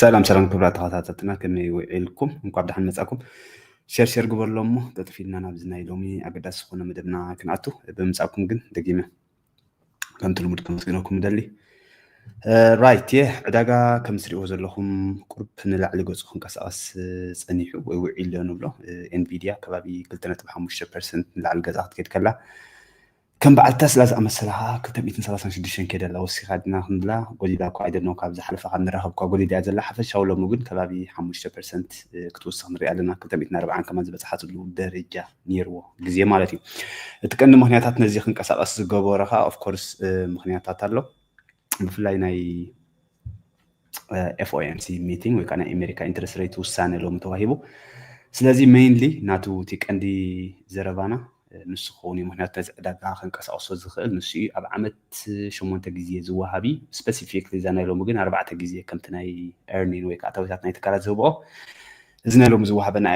ሰላም ሰላም ክብራት ተኸታተልትና ከመይ ውዒልኩም እንኳብ ደሓን መፃኩም ሸር ሸር ግበርሎ እሞ ጠጥፍ ኢልና ናብዚ ናይ ሎሚ ኣገዳሲ ዝኾነ መደብና ክንኣቱ ብምምፃእኩም ግን ደጊመ ከምቲ ልሙድ ከመስግነኩም እደሊ ራይት የ ዕዳጋ ከም ትሪእዎ ዘለኹም ቁርብ ንላዕሊ ገፁ ክንቀሳቐስ ፀኒሑ ወይ ውዒሉ ንብሎ ኤንቪድያ ከባቢ 2.5 ፐርሰንት ንላዕሊ ገዛ ክትከይድ ከላ ከም በዓል ተስላ ዝኣመሰላ ከኣ ክልተ ሚእትን ሰላሳን ሽዱሽተን ኬዳ ኣላ ወሲኻ ድና ክንብላ ጎሊላ እኳ ኣይደልናን ካብ ዝሓለፈ ካብ ንራኸብ እኳ ጎሊላ እያ ዘላ ሓፈሻዊ ሎሚ ግን ከባቢ ሓሙሽተ ፐርሰንት ክትውስኽ ንሪኣ ኣለና ክልተ ሚእትን ኣርብዓን ከማን ዝበጽሓትሉ ደረጃ ኔርዎ ግዜ ማለት እዩ እቲ ቀንዲ ምኽንያታት ነዚ ክንቀሳቐስ ዝገበሮ ከኣ ኦፍኮርስ ምኽንያታት ኣሎ ብፍላይ ናይ ኤፍኦኤምሲ ሚቲንግ ወይ ከዓ ናይ ኣሜሪካ ኢንትረስት ሬት ውሳነ ሎሚ ተዋሂቡ ስለዚ ሜይንሊ ናቱ እቲ ቀንዲ ዘረባና ንሱ ክኸውን እዩ ምክንያቱ ነዚ ዕዳጋ ከንቀሳቅሶ ዝኽእል ንሱ እዩ ኣብ ዓመት ሸሞንተ ግዜ ዝወሃብ እዩ ስፐሲፊክ ዛ ናይ ሎሚ ግን ኣርባዕተ ግዜ ከምቲ ናይ ኤርኒን ወይ ከዓ ኣታዊታት ናይ ትካላት ዝህብኦ እዚ ናይ ሎሚ ዝወሃበና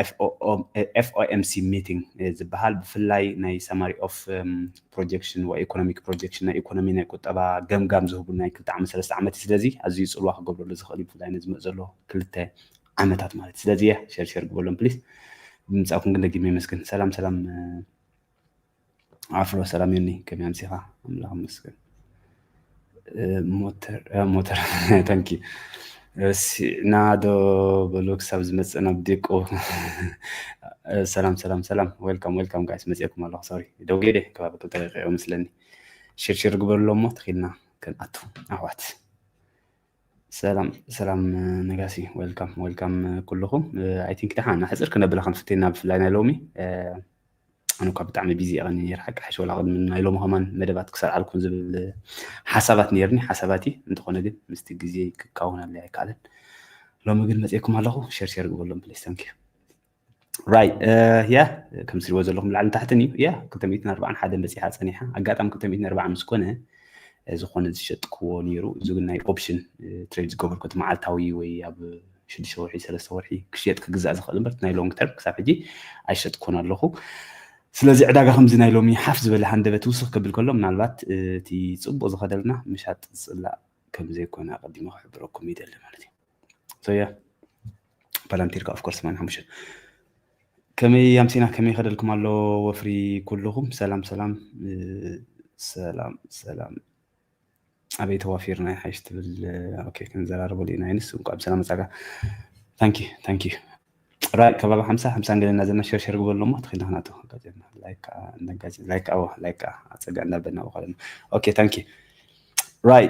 ኤፍኦኤምሲ ሚቲንግ ዝበሃል ብፍላይ ናይ ሰማሪ ኦፍ ፕሮጀክሽን ወይ ኢኮኖሚክ ፕሮጀክሽን ናይ ኢኮኖሚ ናይ ቁጠባ ገምጋም ዝህቡ ናይ ክልተ ዓመት ሰለስተ ዓመት እዩ ስለዚ ኣዝዩ ፅልዋ ክገብረሉ ዝኽእል ብፍላይ ንዝመፅ ዘሎ ክልተ ዓመታት ማለት ስለዚ እየ ሸርሸር ግበሎም ፕሊስ ብምፃኩም ግን ደጊመ ይመስገን ሰላም ሰላም ኣፍሮ ሰላም ዮኒ ከመይ ኣምሲኻ ኣምላኽ ይመስገን ሞተር ሞተር ታንኪ ረሲዕና ዶ በሎ ክሳብ ዝመፅእ ናብ ዲቆ ሰላም ሰላም ሰላም ዌልካም ዌልካም ጋይስ መፅኤኩም ኣለኹ ሶሪ ደው ገይደ ከባቢ ክልተ ደቂቕ መስለኒ ሽርሽር ግበርሎ እሞ ተኺልና ክንኣቱ ኣሕዋት ሰላም ሰላም ነጋሲ ዌልካም ዌልካም ኩልኹም ኣይ ቲንክ ደሓን ኣሕፅር ክነብላ ክንፍትና ብፍላይ ናይ ሎሚ ኣነ እኳ ብጣዕሚ ቢዚ እየ ቀኒ ነይረ ሓቂ ሓሽ ወላ ቅድሚ ናይ ሎሚ ከማን መደባት ክሰርዓልኩም ዝብል ሓሳባት ነይርኒ ሓሳባት እዩ እንተኾነ ግን ምስቲ ግዜ ክካውን ኣለ ኣይከኣለን ሎሚ ግን መፅኤኩም ኣለኹ ሸር ሸር ግበሎም ፕሊስ ታንኪዩ ራይት ያ ከም ትሪእዎ ዘለኹም ላዕሊ ታሕትን እዩ ያ 240 ሓደ በፂሓ ፀኒሓ ኣጋጣሚ 240 ምስ ኮነ ዝኾነ ዝሸጥክዎ ነይሩ እዚ ግን ናይ ኦፕሽን ትሬድ ዝገበርኩት መዓልታዊ ወይ ኣብ ሽዱሽተ ወርሒ ሰለስተ ወርሒ ክሽየጥ ክግዛእ ዝኽእል እምበር ናይ ሎንግ ተርም ክሳብ ሕጂ ኣይሸጥኩን ኣለኹ ስለዚ ዕዳጋ ከምዚ ናይ ሎሚ ሓፍ ዝበለ ሃንደበት ውስኽ ከብል ከሎ ምናልባት እቲ ፅቡቅ ዝኸደልና ምሻጥ ዝፅላእ ከምዘይኮነ ኣቀዲመ ክሕብረኩም ይደሊ ማለት እዩ ሶያ ፓላንቲርካ ኦፍኮርስ ማን ሓሙሽተ ከመይ ኣምሲና ከመይ ከደልኩም ኣሎ ወፍሪ ኩልኹም ሰላም ሰላም ሰላም ሰላም ኣበይ ተዋፊርና ይሓይሽ ትብል ኦኬ ክንዘራረበሉ ኢና ይንስ እንኳዕ ብሰላም መጻካ ታንኪ ታንኪ ራይ ከባቢ ሓምሳ ሓምሳን ገለና ዘለና ሸርሸር ግበሉ እሞ ትኽኢልና ክናቶ ጋዜና ላይክ ከዓ እንዳጋዜ ላይክ ኣዎ ላይክ ከዓ ኣፀጋ እንዳበልና በኳለና ኦኬ ታንኪ ራይ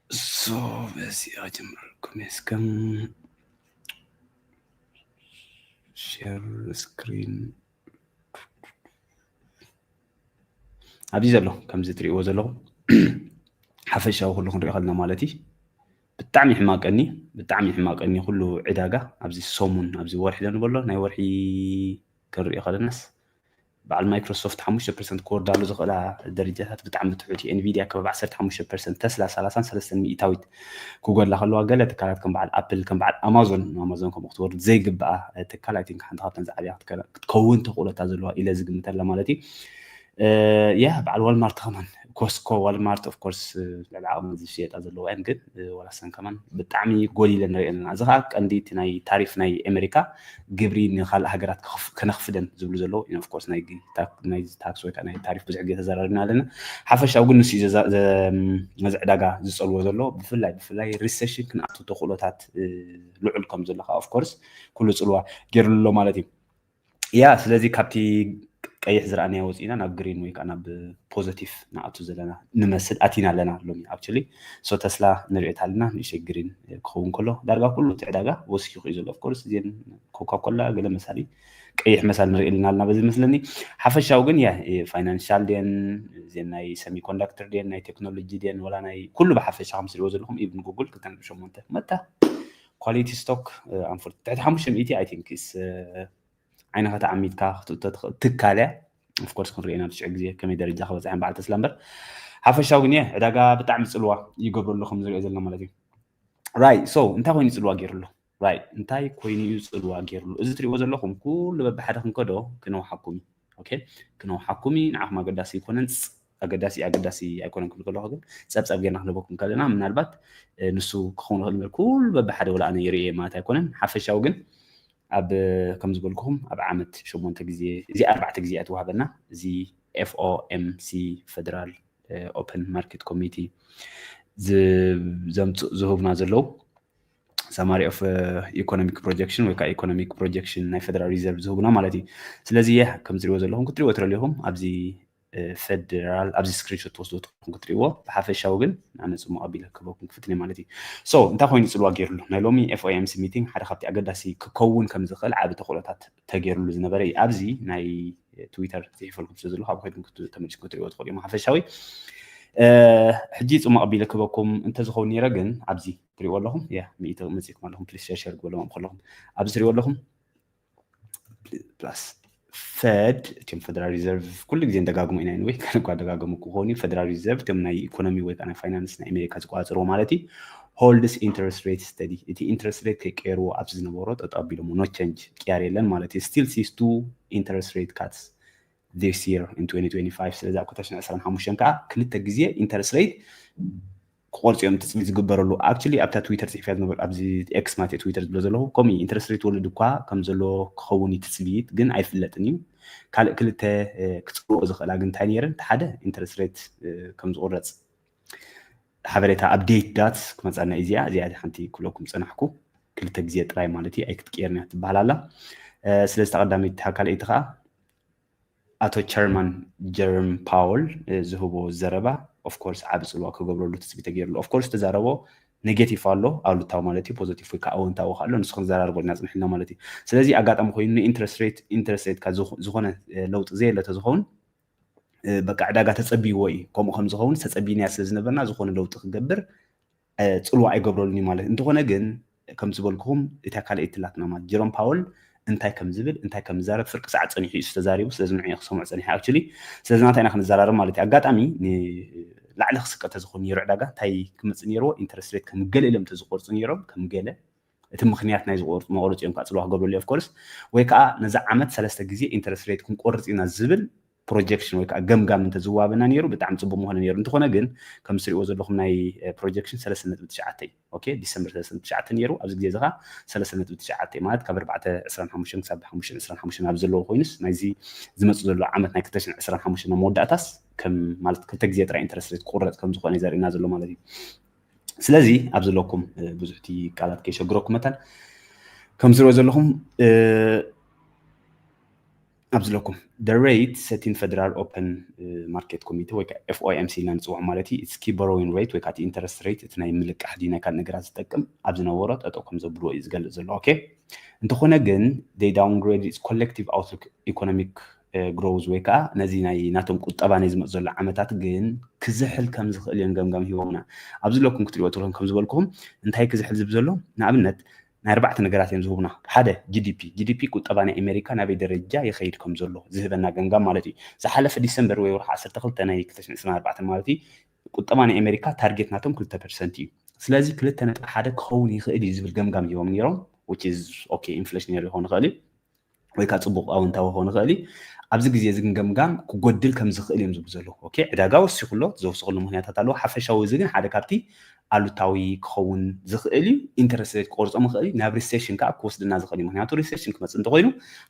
ሶ በዚ ኣጀምረልኩም እስከም ሼር ስክሪን ኣብዚ ዘሎ ከምዚ ትሪእዎ ዘለኹም ሓፈሻዊ ኩሉ ክንሪኦ ከለና ማለት እዩ ብጣዕሚ ሕማቀኒ ብጣዕሚ ሕማቀኒ ኩሉ ዕዳጋ ኣብዚ ሰሙን ኣብዚ ወርሒ ዘንበሎ ናይ ወርሒ ክንሪኦ ከለናስ በዓል ማይክሮሶፍት ሓሙሽተ ፐርሰንት ክወርዳሉ ዝኽእላ ደረጃታት ብጣዕሚ ትሑት እዩ ኤንቪድያ ከባቢ ዓሰርተ ሓሙሽተ ፐርሰንት ተስላ ሰላሳን ሰለስተን ሚእታዊት ክጎድላ ከለዋ ገለ ትካላት ከም በዓል ኣፕል ከም በዓል ኣማዞን ኣማዞን ከምኡ ክትወርድ ዘይግብኣ ትካል ኣይ ቲንክ ሓንቲ ካብተን ዝዓብያ ክትከውን ተኽእሎታ ዘለዋ ኢለ ዝግምተላ ማለት እዩ ያ በዓል ዋልማርት ከማን ኮስኮ ዋልማርት ኦፍኮርስ ልዕሊ ዓቕሚ ዝሽየጣ ዘለዋ እየን ግን ዋላሰን ከማን ብጣዕሚ ጎሊለ ንሪኦ ኣለና እዚ ከዓ ቀንዲ እቲ ናይ ታሪፍ ናይ ኣሜሪካ ግብሪ ንካልእ ሃገራት ከነኽፍደን ዝብሉ ዘለዉ ኦፍ ኮርስ ናይ ታክስ ወይ ናይ ታሪፍ ብዙሕ ግዜ ተዘራሪብና ኣለና ሓፈሻዊ ግን ንሱ ነዚ ዕዳጋ ዝጸልዎ ዘሎ ብፍላይ ብፍላይ ሪሴሽን ክንኣቱ ተኽእሎታት ልዑል ከም ዘሎ ከዓ ኦፍ ኮርስ ኩሉ ጽልዋ ገይርሉ ኣሎ ማለት እዩ ያ ስለዚ ካብቲ ቀይሕ ዝረኣናዮ ወፂእና ናብ ግሪን ወይ ከዓ ናብ ፖዘቲቭ ንኣቱ ዘለና ንመስል ኣቲና ኣለና ሎሚ ኣክቹሊ so ተስላ ንሪኦ ታለና ንእሽተይ ግሪን ክኸውን ከሎ ዳርጋ ኩሉ እቲ ዕዳጋ ወሲኹ እዩ ዘሎ of course እዚን ኮካ ኮላ ገለ መሳሊ ቀይሕ መሳሊ ንሪኦ ኣለና ኣለና በዚ መስለኒ ሓፈሻዊ ግን ያ ፋይናንሻል ድየን እዚን ናይ ሰሚ ኮንዳክተር ድየን ናይ ቴክኖሎጂ ድየን ወላ ናይ ኩሉ ብሓፈሻ ከም ትሪእዎ ዘለኹም ኢቭን ጉግል ክልተ ነጥቢ ሸሞንተ መታ ኳሊቲ ስቶክ ኣንፎር ትሕቲ ሓሙሽተ ሚእቲ ኣይ ቲንክ ዓይንኻ ተዓሚትካ ክትእቶ ትኽእል ትካል እያ ኦፍኮርስ ክንሪኦ ኢና ብስዑ ግዜ ከመይ ደረጃ ክበፅሐን በዓል ተስላ እምበር ሓፈሻዊ ግን እየ ዕዳጋ ብጣዕሚ ፅልዋ ይገብሩ ኣሎ ከም ዝሪኦ ዘለና ማለት እዩ ራይ ሶ እንታይ ኮይኑ ፅልዋ ገይሩ ኣሎ ራይ እንታይ ኮይኑ እዩ ፅልዋ ገይርሉ እዚ ትሪእዎ ዘለኹም ኩሉ በብሓደ ክንከዶ ክነውሓኩም እዩ ኦኬ ክነውሓኩም እዩ ንዓኹም ኣገዳሲ ኣይኮነን ኣገዳሲ ኣገዳሲ ኣይኮነን ክብል ከለኹ ግን ፀብፀብ ጌርና ክንህበኩም ከለና ምናልባት ንሱ ክኸውን ይኽእል እምበር ኩሉ በብሓደ ወላ ኣነ ይርእየ ማለት ኣይኮነን ሓፈሻዊ ግን ኣብ ከም ዝበልኩኹም ኣብ ዓመት ሸሞንተ ግዜ እዚ ኣርባዕተ ግዜ እያ ትዋሃበና እዚ ኤፍኦኤምሲ ፈደራል ኦፐን ማርኬት ኮሚቲ ዘምፅእ ዝህቡና ዘለው ሰማሪ ኦፍ ኢኮኖሚክ ፕሮጀክሽን ወይ ከዓ ኢኮኖሚክ ፕሮጀክሽን ናይ ፈደራል ሪዘርቭ ዝህቡና ማለት እዩ ስለዚ ከምትሪእዎ ዘለኹም ክትሪእዎ ትረልኹም ኣብዚ ፈደራል ኣብዚ ስክሪንሾት ትወስዶ ትኹም ክትሪእዎ ብሓፈሻዊ ግን ኣነ ፅሙቕ ኣቢለ ክህበኩም ክፍትን እየ ማለት እዩ ሶ እንታይ ኮይኑ ፅልዋ ገይሩሉ ናይ ሎሚ ኤፍኦኤምሲ ሚቲንግ ሓደ ካብቲ ኣገዳሲ ክከውን ከም ዝኽእል ዓቢ ተኽእሎታት ተገይሩሉ ዝነበረ እዩ ኣብዚ ናይ ትዊተር ፅሒፈልኩም ስለ ዘለኹ ኣብ ከድኩም ተመልስኩም ክትሪእዎ ትኽእሉ እዮም ሓፈሻዊ ሕጂ ፅሙቕ ኣቢለ ክህበኩም እንተዝኸውን ነይረ ግን ኣብዚ ትሪእዎ ኣለኹም ያ ሚኢቲ መፅእኩም ኣለኹም ፕሊስ ሸርሸር ግበሎም ከለኹም ኣብዚ ትሪእዎ ኣለኹም ፕላስ ፈድ እም ፈደራል ሪዘርቭ ኩሉ ግዜ ንደጋግሞ ኢና ወይ ካነ እኳ ደጋገሙ ክኾኑ ፈደራል ሪዘርቭ እም ናይ ኢኮኖሚ ወይ ከዓ ናይ ፋይናንስ ናይ ኣሜሪካ ዝቆፃፅርዎ ማለት እዩ ሆልድስ ኢንትረስት ሬት ስተዲ እቲ ኢንትረስት ሬት ከይቀየርዎ ኣብዚ ዝነበሮ ጠጠው ኣቢሎሞ ኖ ቸንጅ ቅያር የለን ማለት እዩ ስቲል ሲስ ቱ ኢንትረስት ሬት ካትስ ዚስ የር ን 2025 ስለዚ ኣብ 2025 ከዓ ክልተ ግዜ ኢንትረስት ሬት ክቆርጽ እዮም ትጽቢት ዝግበረሉ ኣክቹሊ ኣብታ ትዊተር ጽሒፍያ ዝነበርኩ ኣብዚ ኤክስ ማለት ትዊተር ዝብሎ ዘለኹ ከምኡ እዩ ኢንትረስት ሬት ወለድ እኳ ከም ዘሎ ክኸውን እዩ ትጽቢት ግን ኣይፍለጥን እዩ ካልእ ክልተ ክጽልኦ ዝኽእላ ግን እንታይ ነይረን እቲ ሓደ ኢንትረስት ሬት ከም ዝቑረጽ ሓበሬታ ኣብዴት ዳት ክመፃና እዩ እዚኣ እዚኣ ሓንቲ ክብለኩም ፀናሕኩ ክልተ ግዜ ጥራይ ማለት እዩ ኣይክትቅየርን እያ ትበሃል ኣላ ስለዚ ተቐዳሚት ካልኣይቲ ከዓ ኣቶ ቸርማን ጀርም ፓወል ዝህቦ ዘረባ ኦፍኮርስ ዓቢ ጽልዋ ክገብረሉ ትጽቢት ተገይርሉ ኦፍኮርስ ዝተዛረቦ ኔጌቲቭ ኣሎ ኣሉታዊ ማለት እዩ ፖዘቲቭ ወይ ከዓ ኣወንታዊ ኣሎ ንሱ ክንዘራርበልና ጽንሕልና ማለት እዩ ስለዚ ኣጋጣሚ ኮይኑ ንኢንትረስት ሬት ኢንትረስት ሬት ካብ ዝኾነ ለውጢ ዘየለ ተዝኸውን በቃ ዕዳጋ ተጸብይዎ እዩ ከምኡ ከም ዝኸውን ተጸብይናያ ስለ ዝነበርና ዝኾነ ለውጢ ክገብር ጽልዋ ኣይገብረሉን እዩ ማለት እንተኾነ ግን ከም ዝበልኩኹም እታ ካልኣይቲ ትላትና ማለት ጀሮም ፓወል እንታይ ከም ዝብል እንታይ ከም ዝዛረብ ፍርቂ ሰዓት ጸኒሑ እዩ ዝተዛሪቡ ስለዚ ንዑ ክሰምዑ ጸኒሐ ኣክቹሊ ስለዚ ናታ ኢና ክንዘራረብ ማለት እዩ ኣጋጣሚ ንላዕሊ ክስቀ ተዝኾን ነይሩ ዕዳጋ እንታይ ክመጽእ ነይርዎ ኢንተረስት ሬት ከም ገለ ኢሎም ተዝቆርጹ ነይሮም ከም ገለ እቲ ምክንያት ናይ ዝቆርጹ መቆረፂ እዮም ከዓ ፅልዋ ክገብረሉ ኦፍኮርስ ወይ ከዓ ነዚ ዓመት ሰለስተ ግዜ ኢንተረስት ሬት ክንቆርፅ ኢና ዝብል ፕሮጀክሽን ወይ ከዓ ገምጋም እንተዝዋበና ነይሩ ብጣዕሚ ፅቡቅ ምኾነ ነይሩ እንተኾነ ግን ከም ትሪእዎ ዘለኹም ናይ ፕሮጀክሽን ሰለስተ ነጥቢ ትሽዓተ እዩ ኦኬ ዲሰምበር ሰለስተ ነጥቢ ትሽዓተ ነይሩ ኣብዚ ግዜ እዚ ከዓ ሰለስተ ነጥቢ ትሽዓተ እዩ ማለት ካብ ኣርባዕተ ዕስራን ሓሙሽተን ክሳብ ሓሙሽተን ዕስራን ሓሙሽተን ኣብ ዘለዎ ኮይኑስ ናይዚ ዝመፅእ ዘሎ ዓመት ናይ ክልተ ሽሕን ዕስራን ሓሙሽተን ኣብ መወዳእታስ ከም ማለት ክልተ ግዜ ጥራይ ኢንተረስት ሬት ክቁረፅ ከም ዝኾነ እዩ ዘርእየና ዘሎ ማለት እዩ ስለዚ ኣብ ዘለኩም ብዙሕ እቲ ቃላት ከይሸግረኩም መታን ከም ዝሪኦ ዘለኹም ኣብ ዝለኩም the rate ሰቲን ፈደራል ኦፐን ማርኬት ኮሚቴ ወይ ከዓ FOMC ኢልና ንፅውዖ ማለት እዩ እስኪ ቦሮዊን ሬት ወይ ከዓ እቲ ኢንተረስት ሬት እቲ ናይ ምልቃሕ ድዩ ናይ ካልእ ነገራት ዝጠቅም ኣብ ዝነበሮ ጠጠው ከም ዘብልዎ እዩ ዝገልፅ ዘሎ ኦኬ እንተኾነ ግን they downgrade its collective outlook economic ግሮውዝ ወይ ከዓ ነዚ ናይ ናቶም ቁጠባ ናይ ዝመፅ ዘሎ ዓመታት ግን ክዝሕል ከም ዝኽእል እዮም ገምጋም ሂቦምና ኣብዚ ለኩም ክትሪኦ ትለኩም ከም ዝበልኩም እንታይ ክዝሕል ዝብ ዘሎ ንኣብነት ናይ ኣርባዕተ ነገራት እዮም ዝህቡና። ሓደ፣ ጂዲፒ፣ GDP፣ ቁጠባ ናይ ኣሜሪካ ናበይ ደረጃ ይኸይድ ከም ዘሎ ዝህበና ገምጋም ማለት እዩ። ዝሓለፈ ዲሰምበር ወይ ወርሒ ዓሰርተ ክልተ ናይ ክልተ ሽሕን ዕስራን ኣርባዕተን ማለት እዩ፣ ቁጠባ ናይ ኣሜሪካ ታርጌት ናቶም ክልተ ፐርሰንት እዩ። ስለዚ ክልተ ነጥቢ ሓደ ክኸውን ይኽእል እዩ ዝብል ገምጋም ሂቦም ነይሮም፣ which is ok፣ ኢንፍለሽነሪ ክኸውን ይኽእል እዩ። ወይ ከዓ ፅቡቕ ኣወንታዊ ክኸውን ይኽእል እዩ ኣብዚ ግዜ እዚ ግን ገምጋም ክጎድል ከም ዝኽእል እዮም ዝብ ዘለኹ ኦኬ ዕዳጋ ወሲኹ ኣሎ ዘውስኽሉ ምክንያታት ኣለዎ ሓፈሻዊ እዚ ግን ሓደ ካብቲ ኣሉታዊ ክኸውን ዝኽእል እዩ ኢንተረስት ሬት ክቆርፆ ምኽእል እዩ ናብ ሪሴሽን ከዓ ክወስድና ዝኽእል እዩ ምክንያቱ ሪሴሽን ክመፅእ እንተኮይኑ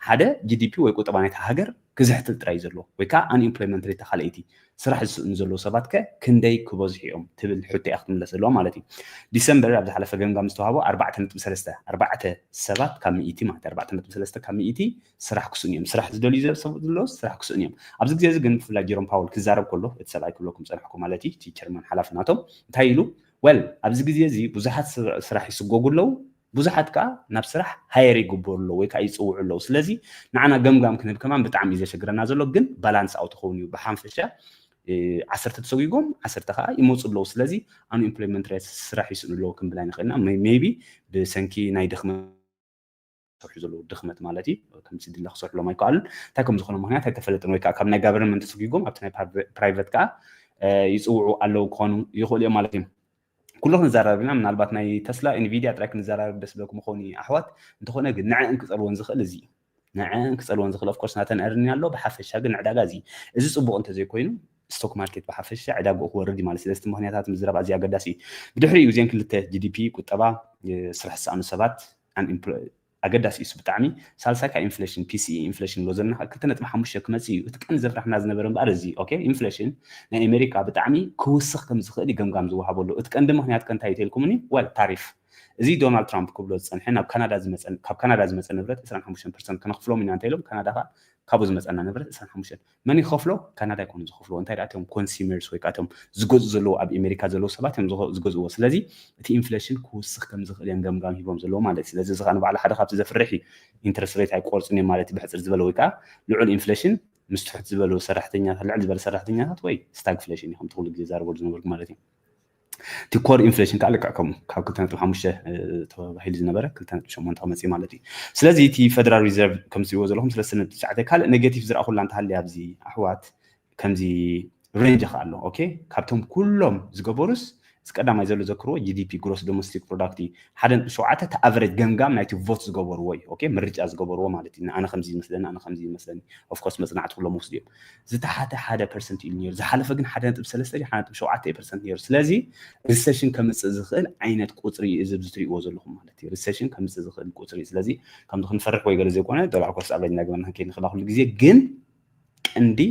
ሓደ ጂዲፒ ወይ ቁጠባ ናይቲ ሃገር ክዝሕትል ጥራይ እዩ ዘለዎ ወይ ከዓ ኣንኤምፕሎይመንት ሬት ተካልኣይቲ ስራሕ ዝስእኑ ዘለዉ ሰባት ከ ክንደይ ክበዝሑ እዮም ትብል ሕቶ እያ ክትምለስ ዘለዋ ማለት እዩ። ዲሰምበር ኣብ ዝሓለፈ ገምጋም ዝተውሃቦ ኣርባዕተ ነጥቢ ሰለስተ ኣርባዕተ ሰባት ካብ ሚእቲ ማለት ኣርባዕተ ነጥቢ ሰለስተ ካብ ሚእቲ ስራሕ ክስእኑ እዮም ስራሕ ዝደልዩ ሰብ ዘለዎስ ስራሕ ክስእኑ እዮም። ኣብዚ ግዜ እዚ ግን ብፍላይ ጀሮም ፓወል ክዛረብ ከሎ እቲ ሰብኣይ ክብለኩም ዝጸናሕኩ ማለት እዩ እቲ ቸርማን ሓላፊ ናቶም እንታይ ኢሉ ወል ኣብዚ ግዜ እዚ ብዙሓት ስራሕ ይስጎጉ ኣለዉ ብዙሓት ከኣ ናብ ስራሕ ሃየር ይግበሩ ኣለዉ ወይ ከኣ ይጽውዑ ኣለዉ ስለዚ ንዓና ገምጋም ክንህብ ከማን ብጣዕሚ እዩ ዘሸግረና ዘሎ ግን ባላንስ ኣውት ክኸውን እዩ ብሓንፈሻ ዓሰርተ ተሰጒጎም ዓሰርተ ከዓ ይመፁ ኣለዉ ስለዚ ኣኑ ኢምፕሎይመንት ሬት ስራሕ ይስእኑ ኣለዉ ክንብል ኣይንኽእልና ሜይቢ ብሰንኪ ናይ ድኽመት ዝሰርሑ ዘለዉ ድኽመት ማለት እዩ ከም ስድለ ክሰርሕሎም ኣይከኣሉን እንታይ ከም ዝኾነ ምክንያት ኣይተፈለጥን ወይ ከዓ ካብ ናይ ጋቨርንመንት ተሰጒጎም ኣብቲ ናይ ፕራይቨት ከዓ ይፅውዑ ኣለዉ ክኾኑ ይኽእሉ እዮም ማለት እዮም ኩሉ ክንዘራረብ ኢና ምናልባት ናይ ተስላ ኢንቪድያ ጥራይ ክንዘራረብ ደስ ብለኩም ይኸውን እዩ ኣሕዋት እንተኾነ ግን ንዐን ክጸልወን ዝኽእል እዚ እዩ ንዐን ክጸልወን ዝኽእል ኦፍኮርስ ናተን ዕርኒ ኣሎ ብሓፈሻ ግን ዕዳጋ እዚ እዚ ጽቡቕ እንተዘይኮይኑ ስቶክ ማርኬት ብሓፈሻ ዕዳግኡ ክወርድ እዩ ማለት ስለዚ ምክንያታት ምዝራብ ኣዝዩ ኣገዳሲ እዩ ብድሕሪኡ እዚን ክልተ ጂዲፒ ቁጠባ ስራሕ ዝሰኣኑ ሰባት ኣገዳሲ ኢሱ ብጣዕሚ ሳልሳይ ካብ ኢንፍለሽን ፒሲኢ ኢንፍለሽን ኣሎ ዘለና ክልተ ነጥቢ ሓሙሽተ ክመጽእ ኢዩ እቲ ቀንዲ ዘፍራሕና ዝነበረ እምበኣር እዚ ኦኬ ኢንፍለሽን ናይ ኤመሪካ ብጣዕሚ ክውስኽ ከም ዝኽእል ኢዩ ገምጋም ዝወሃበሉ እቲ ቀንዲ ምኽንያት ከ እንታይ ኢዩ ተልኩምኒ ወል ታሪፍ እዚ ዶናልድ ትራምፕ ክብሎ ዝጸንሐ ናብ ካናዳ ዝመጸ ካብ ካናዳ ዝመጸ ንብረት ዕስራን ሓሙሽተን ፐርሰንት ከነኽፍሎም ኢና እንተ ኢሎም ካናዳ ከኣ ካብኡ ዝመጸና ንብረት ዕስራን ሓሙሽተን መን ይኸፍሎ ካናዳ ኣይኮኑን ዝኸፍልዎ እንታይ ደኣ እቶም ኮንሱመርስ ወይ ከኣ እቶም ዝገዝኡ ዘለዉ ኣብ ኤሜሪካ ዘለዉ ሰባት እዮም ዝኸ- ዝገዝእዎ ስለዚ እቲ ኢንፍሌሽን ክውስኽ ከም ዝኽእል እዮም ገምጋም ሂቦም ዘለዉ ማለት እዩ ስለዚ እዚ ከኣ ንባዕሉ ሓደ ካብቲ ዘፍርሕ እዩ ኢንትረስት ሬት ኣይቆርጹን እዮም ማለት እዩ ብሕጽር ዝበለ ወይ ከኣ ልዑል ኢንፍሌሽን ምስ ትሑት ዝበሉ ሰራሕተኛታት ልዕል ዝበለ ሰራሕተኛታት ወይ ስታግፍሌሽን እዩ ከምቲ ኩሉ ግዜ ዛረበሉ ዝነበርኩ ማለት እዩ እቲ ኮር ኢንፍሌሽን ከዓ ልክዕ ከምኡ ካብ ክልተ ነጥቢ ሓሙሽተ ተባሂሉ ዝነበረ ክልተ ነጥቢ ሸሞንተ ክመፅእ ማለት እዩ ስለዚ እቲ ፈደራል ሪዘርቭ ከም ትሪእዎ ዘለኹም ሰለስተ ነጥቢ ትሽዓተ ካልእ ኔጌቲቭ ዝረኣኹላ እንተሃልያ ኣብዚ ኣሕዋት ከምዚ ሬንጅ ከዓ ኣሎ ኦኬ ካብቶም ኩሎም ዝገበሩስ እዚ ቀዳማይ ዘሎ ዘክርዎ ጂዲፒ ግሮስ ዶሜስቲክ ፕሮዳክት እዩ ሓደ ነጥቢ ሸውዓተ እቲ ኣቨሬጅ ገምጋም ናይቲ ቮት ዝገበርዎ እዩ ኦኬ ምርጫ ዝገበርዎ ማለት እዩ ኣነ ከምዚ ይመስለኒ ኣነ ከምዚ ይመስለኒ ኦፍኮርስ መፅናዕቲ ኩሎም ወስዱ እዮም ዝተሓተ ሓደ ፐርሰንት እዩ ነይሩ ዝሓለፈ ግን ሓደ ነጥብ ሰለስተ ሓደ ነጥብ ሸውዓተ እዩ ፐርሰንት ነይሩ ስለዚ ሪሴሽን ከምፅእ ዝኽእል ዓይነት ቁፅሪ እዩ እዚ ዝትሪእዎ ዘለኹም ማለት እዩ ሪሴሽን ከምፅእ ዝኽእል ቁፅሪ እዩ ስለዚ ከምዚ ክንፈርሕ ወይ ገለ ዘይኮነ ዶላር ኮርስ ኣቨሬጅ እናገበና ክንከይድ ንኽእላ ኩሉ ግዜ ግን ቀንዲ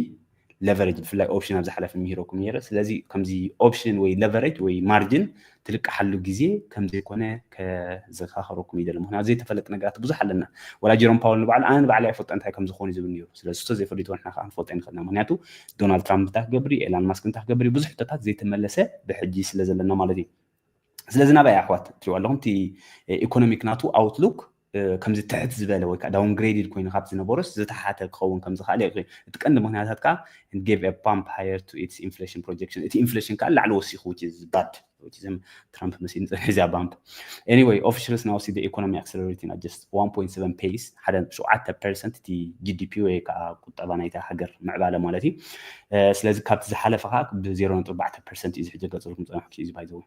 ለቨሬጅ ብፍላይ ኦፕሽን ኣብ ዝሓለፈ ምሂረኩም ነይረ ስለዚ ከምዚ ኦፕሽን ወይ ለቨሬጅ ወይ ማርጅን ትልቃሓሉ ግዜ ከም ዘይኮነ ከዘካክረኩም ይደሊ ምክንያቱ ዘይተፈለጥ ነገራት ብዙሕ ኣለና ወላ ጀሮም ፓወል ንባዕሉ ኣነ ንባዕለይ ኣይፈልጦ እንታይ ከም ዝኮኑ ዝብል ነይሩ ስለዚ እሱ ዘይፈሊቶ ንሕና ከዓ ክንፈልጦ ይንክእልና ምክንያቱ ዶናልድ ትራምፕ እንታይ ክገብር እዩ ኤላን ማስክ እንታይ ክገብር እዩ ብዙሕ ሕቶታት ዘይተመለሰ ብሕጂ ስለ ዘለና ማለት እዩ ስለዚ ናብይ ኣሕዋት ትሪዋ ኣለኹም እቲ ኢኮኖሚክ ናቱ ኣውትሉክ ከምዚ ትሕት ዝበለ ወይ ከዓ ዳውንግሬድድ ኮይኑ ካብ ዝነበሮስ ዝተሓተ ክኸውን ከም ዝኸኣለ የርኢ። እቲ ቀንዲ ምኽንያታት ከዓ and gave a pump higher to its inflation projection እቲ ኢንፍሌሽን ከዓ ንላዕሊ ወሲኹ which is bad which is ትራምፕ መሲሉ ዝፀንሐ እዚኣ ባምፕ anyway officials now see the economy accelerating at just 1.7 pace ሓደ ነጥቢ ሸውዓተ ፐርሰንት እቲ ጂዲፒ ወይ ከዓ ቁጠባ ናይታ ሃገር ምዕባለ ማለት እዩ ስለዚ ካብቲ ዝሓለፈ ከዓ ብዜሮ ነጥቢ ኣርባዕተ ፐርሰንት እዩ ዝሕጀ ገፅልኩም ፀናሕኩ እዩ ባይዘወይ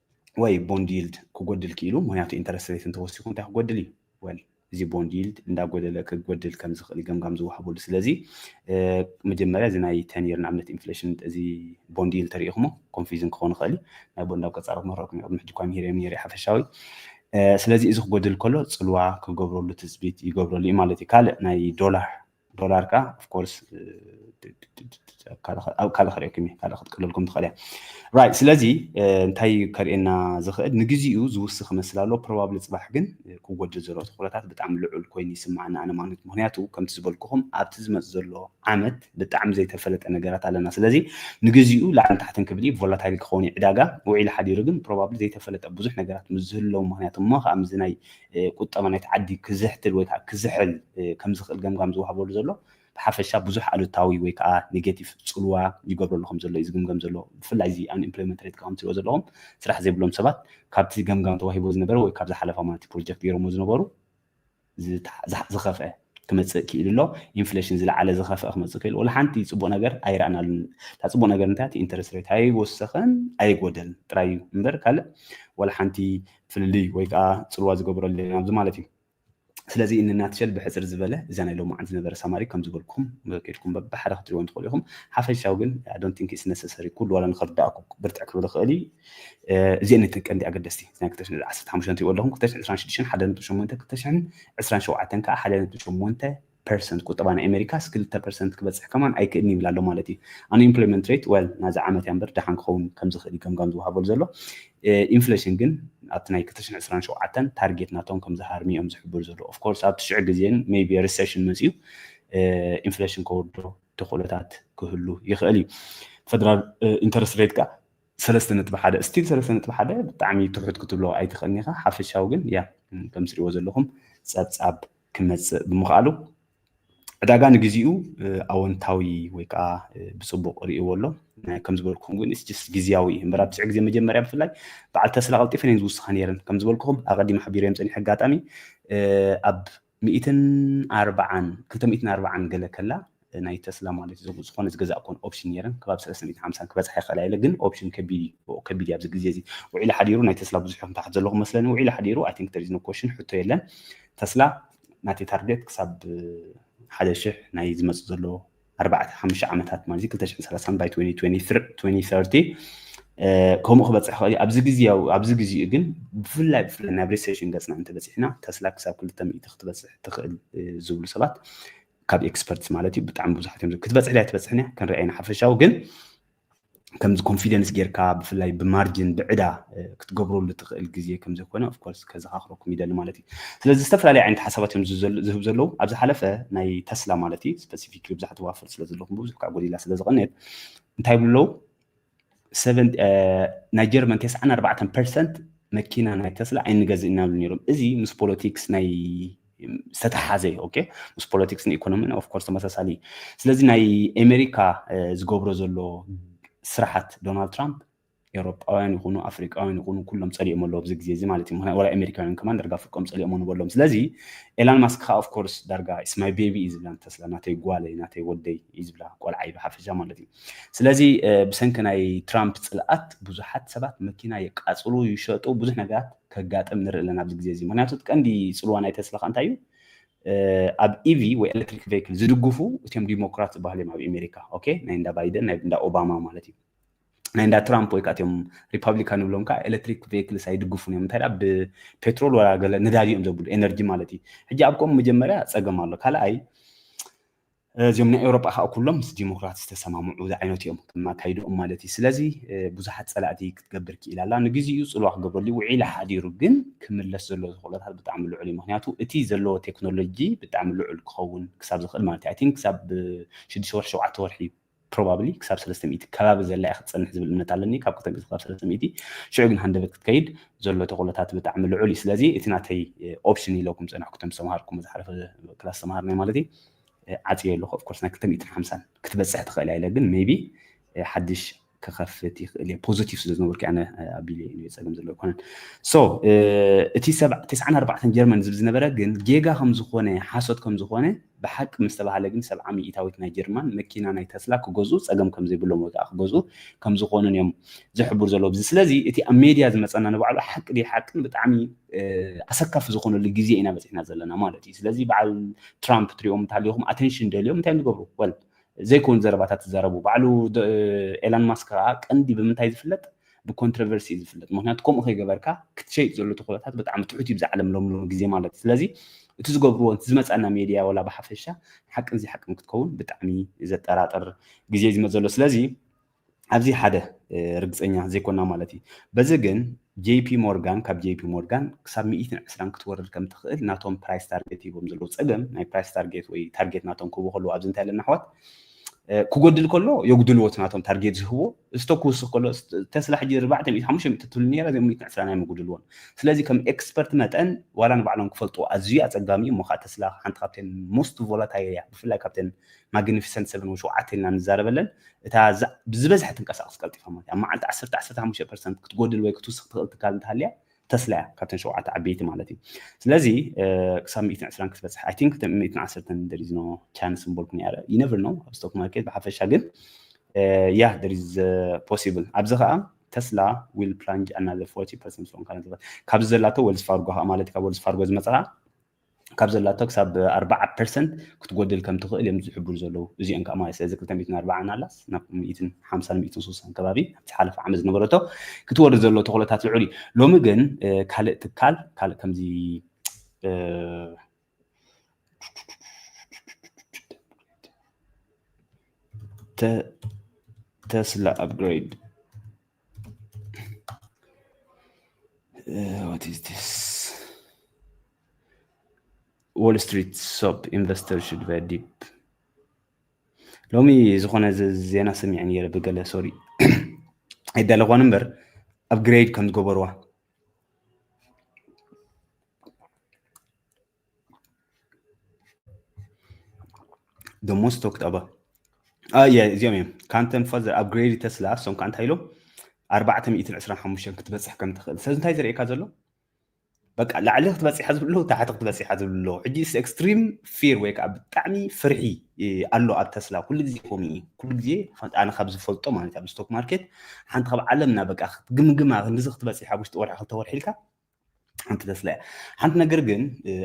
ወይ ቦንድ ይልድ ክጎድል ክኢሉ ምክንያቱ ኢንተረስት ሬት እንተወሲኹ እንታይ ክጎድል እዩ ወል እዚ ቦንድ ይልድ እንዳጎደለ ክጎድል ከም ዝኽእል ገምጋም ዝወሃበሉ ስለዚ መጀመርያ እዚ ናይ ተኒር ንኣብነት ኢንፍሌሽን እዚ ቦንድ ይልድ ተሪኢኹሞ ኮንፊዝን ክኸውን ይኽእል እዩ ናይ ቦንድ ኣብ ቀፃሮ ክመረኩም እዩ ቅድሚ ሕጂ እኳ ምሂረዮም ነይረ ሓፈሻዊ ስለዚ እዚ ክጎድል ከሎ ፅልዋ ክገብረሉ ትፅቢት ይገብረሉ እዩ ማለት እዩ ካልእ ናይ ዶላር ዶላር ከ ኦፍኮርስ ካልእ ክርእየኩም እየ ካልእ ክትቅልልኩም ትኽእል እያ ራይት ስለዚ እንታይ እዩ ከርእየና ዝኽእል ንግዚኡ ዝውስ ክመስል ኣሎ ፕሮባብሊ ፅባሕ ግን ክጎድል ዘሎ ትኩረታት ብጣዕሚ ልዑል ኮይኑ ይስምዓና ኣነ ማለት ምክንያቱ ከምቲ ዝበልኩኹም ኣብቲ ዝመፅ ዘሎ ዓመት ብጣዕሚ ዘይተፈለጠ ነገራት ኣለና ስለዚ ንግዚኡ ላዕልን ታሕትን ክብል እዩ ቮላታይል ክኸውን እዩ ዕዳጋ ውዒሉ ሓዲሩ ግን ፕሮባብሊ ዘይተፈለጠ ብዙሕ ነገራት ምስ ዝህለው ምክንያቱ እሞ ከዓ ምዚ ናይ ቁጠባ ናይቲ ዓዲ ክዝሕትል ወይ ከኣ ክዝሕል ከም ዝኽእል ገምጋም ዝወሃበሉ ዘሎ ብሓፈሻ ብዙሕ ኣሉታዊ ወይ ከኣ ኔጌቲቭ ጽልዋ ይገብረሉ ከም ዘሎ እዩ ዝግምገም ዘሎ። ብፍላይ እዚ ኣንኢምፕሎይመንት ሬት ከም ትሪእዎ ዘለኹም ስራሕ ዘይብሎም ሰባት ካብቲ ገምጋም ተዋሂብዎ ዝነበረ ወይ ካብ ዝሓለፈ ኣማንቲ ፕሮጀክት ገይሮምዎ ዝነበሩ ዝኸፍአ ክመጽእ ክኢሉ ኣሎ። ኢንፍለሽን ዝለዓለ ዝኸፍኣ ክመጽእ ክኢሉ። ወላ ሓንቲ ጽቡቕ ነገር ኣይረኣናሉን። እታ ጽቡቕ ነገር እንታይ እቲ ኢንተረስት ሬት ኣይወሰኸን ኣይጎደልን ጥራይ እዩ እምበር ካልእ ወላ ሓንቲ ፍልልይ ወይ ከዓ ጽልዋ ዝገበረሉ የለን ኣብዚ ማለት እዩ። ስለዚ እንናትሸል ብሕፅር ዝበለ እዛ ናይ ሎሚ መዓልቲ ዝነበረ ሳማሪ ከም ዝበልኩም ከድኩም በብሓደ ክትሪእዎም ትኽእሉ ኢኹም ሓፈሻዊ ግን ኣይ ዶንት ቲንክ ኢትስ ነሰሰሪ ኩሉ ዋላ ንኽርዳእኩ ብርትዕ ክብል ይኽእል እዩ እዚኤን እተን ቀንዲ ኣገደስቲ ናይ 2015 ትሪእዎ ኣለኹም 2026 ሓደ ነጥቢ ሸሞንተ 2027 ከዓ ሓደ ነጥቢ ሸሞንተ ፐርሰንት ቁጠባ ናይ ኣሜሪካስ ክልተ ፐርሰንት ክበፅሕ ከማን ኣይክእልን ይብል ኣሎ ማለት እዩ ኣንኢምፕሎይመንት ሬት ወል ናዚ ዓመት እያ እምበር ደሓን ክኸውን ከም ዝኽእል እዩ ገምጋም ዝወሃበሉ ዘሎ ኢንፍሌሽን ግን ኣብቲ ናይ 2027 ታርጌት ናቶም ከም ዝሃርሚ እዮም ዝሕብሩ ዘለዉ ኦፍኮርስ ኣብቲ ሽዑ ግዜን ሜቢ ሪሴሽን መፅኡ ኢንፍሌሽን ከወርዶ ተኽእሎታት ክህሉ ይኽእል እዩ ፈደራል ኢንተረስት ሬት ከዓ ሰለስተ ነጥቢ ሓደ ስቲል ሰለስተ ነጥቢ ሓደ ብጣዕሚ ትሑት ክትብሎ ኣይትኽእልን ኢኻ ሓፈሻዊ ግን ያ ከም ትሪእዎ ዘለኹም ጸብጻብ ክመጽእ ብምኽኣሉ ዕዳጋ ንግዚኡ ኣወንታዊ ወይ ከዓ ብፅቡቅ ርእይዎ ኣሎ ከም ዝበልኩኹም ግን ስጅስ ግዜያዊ እዩ እምበር ኣብ ትስዕ ግዜ መጀመርያ ብፍላይ በዓል ተስላ ቀልጢፈን እየን ዝውስኻ ነይረን ከም ዝበልኩኹም ኣቐዲም ሓቢረዮም ፀኒሐ ኣጋጣሚ ኣብ ሚእትን ኣርባዓን ክልተ ሚእትን ኣርባዓን ገለ ከላ ናይ ተስላ ማለት እዩ ዝኾነ ዝገዛእ ኮን ኦፕሽን ነይረን ከባቢ ሰለስተ ሚእትን ሓምሳን ክበጽሓ ይኽእላ ኢለ ግን ኦፕሽን ከቢድ እዩ ብኡ ከቢድ እዩ ኣብዚ ግዜ እዚ ውዒሉ ሓዲሩ ናይ ተስላ ብዙሕ ኢኹም ታሕት ዘለኹም መስለኒ ውዒሉ ሓዲሩ ኣይ ቲንክ ተሪዝ ኖ ኮሽን ሕቶ የለን ተስላ ናተይ ታርጌት ክሳብ ሓደ ሽሕ ናይ ዝመጽእ ዘሎ ኣርባዕተ ሓሙሽተ ዓመታት ማለት እዩ ክልተ ሽሕን ሰላሳን ባይ ትወኒ ትወኒ ትር- ትወኒ ሰርቲ እ፣ ከምኡ ክበፅሕ ይኽእል እዩ ኣብዚ ግዜያዊ ኣብዚ ግዜኡ ግን ብፍላይ ብፍላይ ናብ ሪሴሽን ገፅና እንተበፂሕና ተስላ ክሳብ ክልተ ሚእቲ ክትበፅሕ ትኽእል እ፣ ዝብሉ ሰባት ካብ ኤክስፐርትስ ማለት እዩ ብጣዕሚ ብዙሓት እዮም ክትበፅሕ ድያ ትበፅሕን እያ ክንርኣይ ኢና ሓፈሻዊ ግን ከምዚ ኮንፊደንስ ጌርካ ብፍላይ ብማርጅን ብዕዳ ክትገብረሉ ትኽእል ግዜ ከም ዘይኮነ ኦፍኮርስ ከዘኻኽረኩም ይደሊ ማለት እዩ ስለዚ ዝተፈላለዩ ዓይነት ሓሳባት እዮም ዝህብ ዘለዉ ኣብ ዝሓለፈ ናይ ተስላ ማለት እዩ ስፐሲፊክ ብዙሓት ዋፍር ስለ ዘለኹም ብዙሕ ከዓ ጎዲላ ስለ ዝቐንየት እንታይ ይብሉ ኣለዉ ናይ ጀርመን ተስዓን ኣርባዕተን ፐርሰንት መኪና ናይ ተስላ ኣይንገዝእ ኢና ዝብሉ ነይሮም እዚ ምስ ፖለቲክስ ናይ ዝተተሓሓዘ እዩ ኦኬ ምስ ፖለቲክስን ኢኮኖሚን ኦፍኮርስ ተመሳሳሊ እዩ ስለዚ ናይ ኣሜሪካ ዝገብሮ ዘሎ ስራሓት ዶናልድ ትራምፕ ኤውሮጳውያን ይኹኑ ኣፍሪቃውያን ይኹኑ ኩሎም ፀሊኦም ኣለዎ ኣብዚ ግዜ እዚ ማለት እዩ ምክንያቱ ወላ ኣሜሪካውያን ከማን ዳርጋ ፍርቆም ፀሊኦም ንበሎም ስለዚ ኤላን ማስክ ከዓ ኦፍኮርስ ዳርጋ ኢስ ማይ ቤቢ እዩ ዝብላ ንተስላ ናተይ ጓለይ ናተይ ወደይ እዩ ዝብላ ቆልዓይ ብሓፈሻ ማለት እዩ ስለዚ ብሰንኪ ናይ ትራምፕ ፅልኣት ብዙሓት ሰባት መኪና የቃፅሉ ይሸጡ ብዙሕ ነገራት ከጋጥም ንርኢ ኣለና ኣብዚ ግዜ እዚ ምክንያቱ እቲ ቀንዲ ፅልዋ ናይ ተስላ ከ እንታይ እዩ ኣብ ኢቪ ወይ ኤሌክትሪክ ቬክል ዝድግፉ እትም ዲሞክራት ዝበሃሉ እዮም ኣብ ኣሜሪካ ኦኬ ናይ እንዳ ባይደን ናይ እንዳ ኦባማ ማለት እዩ ናይ እንዳ ትራምፕ ወይ ከዓ እትም ሪፐብሊካን ንብሎም ከዓ ኤሌክትሪክ ቬክልስ ኣይድግፉን እዮም እንታይ ዳ ብፔትሮል ወላ ገለ ነዳዲ እዮም ዘብሉ ኤነርጂ ማለት እዩ ሕጂ ኣብ ከምኡ መጀመርያ ፀገም ኣሎ ካልኣይ እዚኦም ናይ ኤውሮጳ ከዓ ኩሎም ምስ ዲሞክራት ዝተሰማምዑ ዝዓይነቱ እዮም ከም ኣካይድኦም ማለት እዩ ስለዚ ብዙሓት ፀላእቲ ክትገብር ክኢላ ኣላ ንግዜኡ ፅልዋ ክገብረሉ ውዒለ ሓዲሩ ግን ክምለስ ዘለዎ ዝኽእሎታት ብጣዕሚ ልዑል እዩ ምክንያቱ እቲ ዘለዎ ቴክኖሎጂ ብጣዕሚ ልዑል ክኸውን ክሳብ ዝኽእል ማለት እዩ ኣይቲንክ ክሳብ ሽዱሽተ ወርሒ ሸውዓተ ወርሒ እዩ ፕሮባብሊ ክሳብ ሰለስተ ሚእቲ ከባቢ ዘላ እያ ክትጸንሕ ዝብል እምነት ኣለኒ ካብ ክልተ ሚእቲ ክሳብ ሰለስተ ሚእቲ ሽዑ ግን ሃንደበት ክትከይድ ዘሎ ተኽእሎታት ብጣዕሚ ልዑል እዩ ስለዚ እቲ ናተይ ኦፕሽን ኢለኩም ጸናሕኩ ቶም ዝተምሃርኩም ዝሓለፈ ክላስ ዝተምሃርናዮ ማለት እዩ ዓጽዮ ኣለኹ ኦፍኮርስ ናይ ክልተ ሚእትን ሓምሳን ክትበጽሕ ትኽእል እያ ኢለ ግን ሜቢ ሓድሽ ክኸፍት ይኽእል እየ ፖዚቲቭ ስለ ዝነበርኩ ኣነ ኣቢለ እዩ ፀገም ዘለዎ ኣይኮነን ሶ እቲ ሰብ ተስዓን ኣርባዕተን ጀርመን ዝብ ዝነበረ ግን ጌጋ ከም ዝኾነ ሓሶት ከም ዝኾነ ብሓቂ ምስ ተባህለ ግን ሰብዓ ሚኢታዊት ናይ ጀርማን መኪና ናይ ተስላ ክገዝኡ ጸገም ከም ዘይብሎም ወይ ከኣ ክገዝኡ ከም ዝኾኑን እዮም ዝሕብሩ ዘለዉ ብዚ ስለዚ እቲ ኣብ ሜድያ ዝመጸና ንባዕሉ ሓቂ ድዩ ሓቅን ብጣዕሚ ኣሰካፊ ዝኾነሉ ግዜ ኢና በጺሕና ዘለና ማለት እዩ ስለዚ በዓል ትራምፕ ትሪኦም እንተሃሊኹም ኣቴንሽን ደልዮም እንታይ ንገብሩ ወል ዘይኮን ዘረባታት ዝዛረቡ ባዕሉ ኤላን ማስክ ከዓ ቀንዲ ብምንታይ ዝፍለጥ ብኮንትረቨርሲ እዩ ዝፍለጥ ምክንያቱ ከምኡ ከይገበርካ ክትሸይጥ ዘሎ ተኽእሎታት ብጣዕሚ ትሑት እዩ ብዛዕለም ሎም ሎም ግዜ ማለት ስለዚ እቲ ዝገብርዎ እቲ ዝመፀና ሜድያ ወላ ብሓፈሻ ሓቅን ዘይሓቅን ክትከውን ብጣዕሚ ዘጠራጥር ግዜ ዝመፅ ዘሎ ስለዚ ኣብዚ ሓደ ርግፀኛ ዘይኮና ማለት እዩ በዚ ግን ጄፒ ሞርጋን ካብ ጄፒ ሞርጋን ክሳብ 120 ክትወርድ ከም ትኽእል ናቶም ፕራይስ ታርጌት ሂቦም ዘለዉ ፀገም ናይ ፕራይስ ታርጌት ወይ ታርጌት ናቶም ክህቡ ከለዉ ኣብዚ እንታይ ኣለና ኣሕዋት ክጎድል ከሎ የጉድልዎ እቲ ናቶም ታርጌት ዝህብዎ እዝቶ ክውስኽ ከሎ ተስላ ሕጂ ርባዕተ ሚእቲ ሓሙሽተ ሚእቲ ትብል ነራ እዚኦም ሚእትን ዕስራን ኣይምጉድልዎን ስለዚ ከም ኤክስፐርት መጠን ዋላ ንባዕሎም ክፈልጡ ኣዝዩ ኣጸጋሚ እዩ እሞ ከዓ ተስላ ሓንቲ ካብተን ሞስት ቮላታይል እያ ብፍላይ ካብተን ማግኒፊሰንት ሰቨን ወይ ሸውዓተ ኢልና ንዛረበለን እታ ብዝበዝሐ ትንቀሳቐስ ቀልጢፋ ማለት እያ መዓልቲ ዓሰርተ ዓሰርተ ሓሙሽተ ፐርሰንት ክትጎድል ወይ ክትውስኽ ትኽእል ትካል እንተሃልያ ተስላ እያ ካብተን ሸውዓተ ዓበይቲ ማለት እዩ ስለዚ ክሳብ ሚእትን ዕስራን ክትበፅሕ ኣይ ቲንክ ሚእትን ዓሰርተን ደሪዝኖ ቻንስ ምበልኩ ነረ ይነብር ነው ኣብ ስቶክ ማርኬት ብሓፈሻ ግን ያ ደሪዝ ፖሲብል ኣብዚ ከዓ ተስላ ዊል ፕላንጅ ኣናዘር ፎርቲ ፐርሰንት ሶን ካብዚ ዘላቶ ወልስ ፋርጎ ከዓ ማለት ካብ ወልስ ፋርጎ ዝመፅኣ ካብ ዘላቶ ክሳብ ኣርባዓ ፐርሰንት ክትጎድል ከም ትኽእል እዮም ዝሕብሩ ዘለዉ እዚኦም ከዓ ማለት ስለዚ ክልተ ሚእትን ኣርባዓን ኣላስ ናብ ሚእትን ሓምሳን ሚእትን ስልሳን ከባቢ ኣብቲ ሓለፈ ዓመት ዝነበረቶ ክትወርድ ዘሎ ተኽእሎታት ልዑል እዩ ሎሚ ግን ካልእ ትካል ካልእ ከምዚ ተስላ ኣፕግሬድ ዎል ስትሪት ሶፕ ኢንቨስተር ሽድ ቨ ዲፕ ሎሚ ዝኾነ ዜና ሰሚዐ ነይረ ብገለ ሶሪ ኣይዳለኳን እምበር ኣብ ግሬድ ከም ዝገበርዋ the most talked about uh, yeah, እዚኦም እዮም ካንተን ፋዘ ኣፕግሬድ ተስላ እሶም ከዓ እንታይ ኢሎም ኣርባዕተ ሚእትን ዕስራን ሓሙሽተን ክትበፅሕ ከም ትኽእል ስለዚ እንታይ ዘርእየካ ዘሎ በቃ ላዕሊ ክትበፂሓ ዝብሎ ታሕቲ ክትበፂሓ ዝብሎ ሕጂ ኤክስትሪም ፊር ወይ ከዓ ብጣዕሚ ፍርሒ ኣሎ ኣብ ተስላ ኩሉ ግዜ ከምኡ እዩ ኩሉ ግዜ ኣነ ካብ ዝፈልጦ ማለት ኣብ ስቶክ ማርኬት ሓንቲ ካብ ዓለምና በቃ ክትግምግማ ክንዲዚ ክትበፂሕ ኣብ ውሽጢ ወርሒ ክልተ ወርሒ ኢልካ ሓንቲ ተስላ እያ ሓንቲ ነገር ግን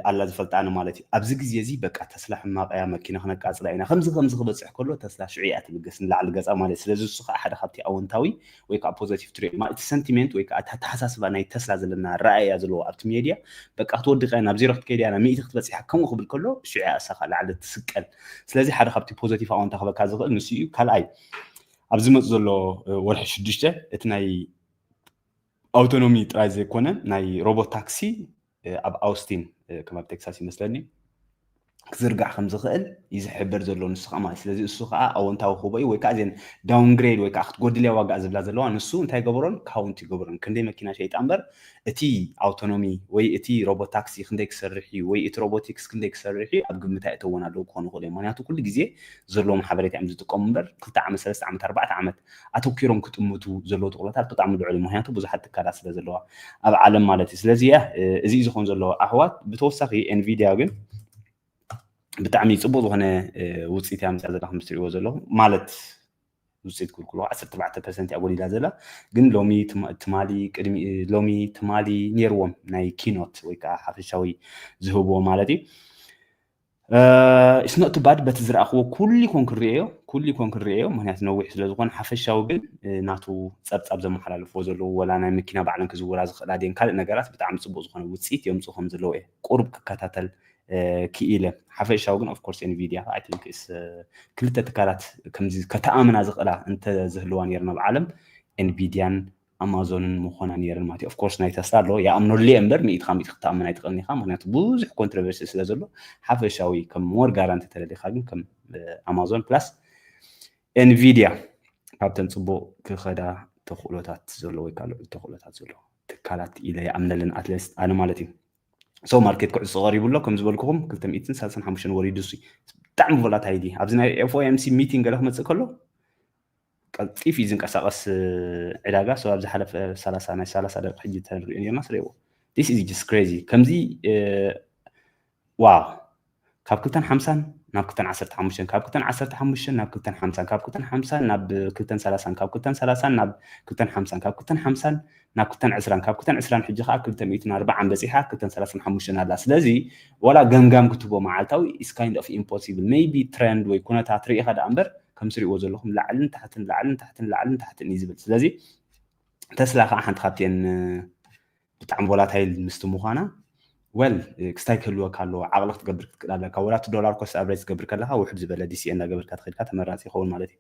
ኣላ ዝፈልጣ ኣነ ማለት እዩ ኣብዚ ግዜ እዚ በቃ ተስላ ሕማቕ እያ መኪና ክነቃፅላ ኢና ከምዚ ከምዚ ክበፅሕ ከሎ ተስላ ሽዑ እያ ትብገስ ንላዕሊ ገፃ ማለት እዩ ስለዚ እሱ ከዓ ሓደ ካብቲ ኣወንታዊ ወይ ከዓ ፖዘቲቭ ትሪኦ ማለት እቲ ሰንቲሜንት ወይ ከዓ እቲ ኣተሓሳስባ ናይ ተስላ ዘለና ረኣያ ዘለዎ ኣብቲ ሜድያ በቃ ክትወድቕ እያ ናብ ዜሮ ክትከይድ እያ ናብ ሚእቲ ክትበፅሕ ከምኡ ክብል ከሎ ሽዑ እያ እሳኻ ላዕሊ ትስቀል ስለዚ ሓደ ካብቲ ፖዘቲቭ ኣወንታ ክበካ ዝኽእል ንሱ እዩ ካልኣይ ኣብ ዝመፅ ዘሎ ወርሒ ሽዱሽተ እቲ ናይ ኣውቶኖሚ ጥራይ ዘይኮነ ናይ ሮቦት ታክሲ ኣብ ኣውስቲን ከም ኣብ ቴክሳስ ይመስለኒ ክዝርጋሕ ከም ዝኽእል እዩ ዝሕበር ዘሎ ንሱ ከዓ ማለት ስለዚ እሱ ከዓ ኣወንታዊ ክህቦ እዩ ወይ ከዓ እዘን ዳውንግሬድ ወይ ከዓ ክትጎድልያ ዋጋ ዝብላ ዘለዋ ንሱ እንታይ ገበሮን ካውንት ይገብሮን ክንደይ መኪና ሸይጣ እምበር እቲ ኣውቶኖሚ ወይ እቲ ሮቦት ታክሲ ክንደይ ክሰርሕ እዩ ወይ እቲ ሮቦቲክስ ክንደይ ክሰርሕ እዩ ኣብ ግምት ኣይእተወን ኣለዉ ክኾኑ ይኽእሉ እዮም ምክንያቱ ኩሉ ግዜ ዘለዎም ሓበሬታ እዮም ዝጥቀሙ እምበር ክልተ ዓመት ሰለስተ ዓመት ኣርባዕተ ዓመት ኣተኪሮም ክጥምቱ ዘለዎ ትኩረታት ብጣዕሚ ልዑል እዩ ምክንያቱ ብዙሓት ትካላት ስለ ዘለዋ ኣብ ዓለም ማለት እዩ ስለዚ ያ እዚ እዩ ዝኮን ዘለዎ ኣሕዋት ብተወሳኺ ኤንቪድያ ግን ብጣዕሚ ፅቡቅ ዝኮነ ውፅኢት እያ ምፅያ ዘላ ከምትሪእዎ ዘለኹ ማለት ውፅኢት ክልክሎ 14 ፐርሰንት እያ ጎዲላ ዘላ ግን ሎሚ ትማሊ ቅድሚ ሎሚ ትማሊ ነይርዎም ናይ ኪኖት ወይ ከዓ ሓፈሻዊ ዝህብዎ ማለት እዩ ኢትስ ኖት ባድ በቲ ዝረኣኽዎ ኩሉ ኮን ክንሪኦ ኩሉ ኮን ክንሪኦ ምክንያቱ ነዊሕ ስለ ዝኾነ ሓፈሻዊ ግን ናቱ ጸብጻብ ዘመሓላልፍዎ ዘለዉ ወላ ናይ መኪና ባዕለን ክዝውራ ዝኽእላ ድየን ካልእ ነገራት ብጣዕሚ ጽቡቕ ዝኾነ ውጽኢት የምጽኡ ከም ዘለዉ እየ ቁሩብ ክከታተል ክኢለ ሓፈሻዊ ግን ኦፍኮርስ ኤንቪድያ ኣይ ቲንክ ኢስ ክልተ ትካላት ከምዚ ከተኣምና ዝኽእላ እንተዝህልዋ ነይረን ኣብ ዓለም ኤንቪድያን ኣማዞንን ምኾና ነይረን ማለት እዩ ኦፍኮርስ ናይ ተስላ ኣሎ ይኣምነሉ እየ እምበር ሚእቲ ካብ ሚእቲ ክትኣምን ኣይትኽእልን ኢኻ ምክንያቱ ብዙሕ ኮንትሮቨርሲ ስለ ዘሎ ሓፈሻዊ ከም ሞር ጋራንቲ ተደሊኻ ግን ከም ኣማዞን ፕላስ ኤንቪድያ ካብተን ፅቡቅ ክኸዳ ተኽእሎታት ዘሎ ወይ ካልኦ ተኽእሎታት ዘሎ ትካላት ኢለ ይኣምነለን ኣትለስ ኣነ ማለት እዩ ሰው ማርኬት ክዕፆ ቀሪቡ ኣሎ ከም ዝበልኩኹም 235 ወሪዱ ሲ ብጣዕሚ ቮላታይል ኣብዚ ናይ ኤፍኦኤምሲ ሚቲንግ ገለ ክመፅእ ከሎ ቀልጢፍ እዩ ዝንቀሳቀስ ዕዳጋ ሶ ኣብ ዝሓለፈ ሰላሳ ናይ ሰላሳ ደቂ ሕጂ ተንሪኦ ኔርና ስረይዎ this is just crazy ከምዚ ዋው ካብ ክልተን ሓምሳን ናብ ክልተን ዓሰርተ ሓሙሽተን ካብ ክልተን ዓሰርተ ሓሙሽተን ናብ ክልተን ሓምሳን ካብ ክልተን ሓምሳን ናብ ክልተን ሰላሳን ካብ ክልተን ሰላሳን ናብ ክልተን ሓምሳን ካብ ክልተን ሓምሳን ናብ ክልተን ዕስራን ካብ ክልተን ዕስራን ሕጂ ከዓ ክልተ ሚእትን ኣርብዓን በፂሓ ክልተን ሰላሳን ሓሙሽተን ኣላ ስለዚ ዋላ ገምጋም ክትቦ መዓልታዊ ኢስ ካይንድ ኦፍ ኢምፖሲብል መይቢ ትረንድ ወይ ኩነታት ርኢኻ ደኣ እምበር ከም ትሪእዎ ዘለኹም ላዕልን ታሕትን ላዕልን ታሕትን ላዕልን ታሕትን እዩ ዝብል ስለዚ ተስላ ከዓ ሓንቲ ካብቲኤን ብጣዕሚ ቮላታይል ምስቲ ምዃና ዌል ክስታይ ክህልወካ ኣለዎ ዓቕሊ ክትገብር ክትክእል ኣለካ ወላ እቲ ዶላር ኮስት ኣብሬጅ ዝገብር ከለካ ውሕድ ዝበለ ዲሲኤ እናገበርካ ተኸድካ ተመራፂ ይኸውን ማለት እዩ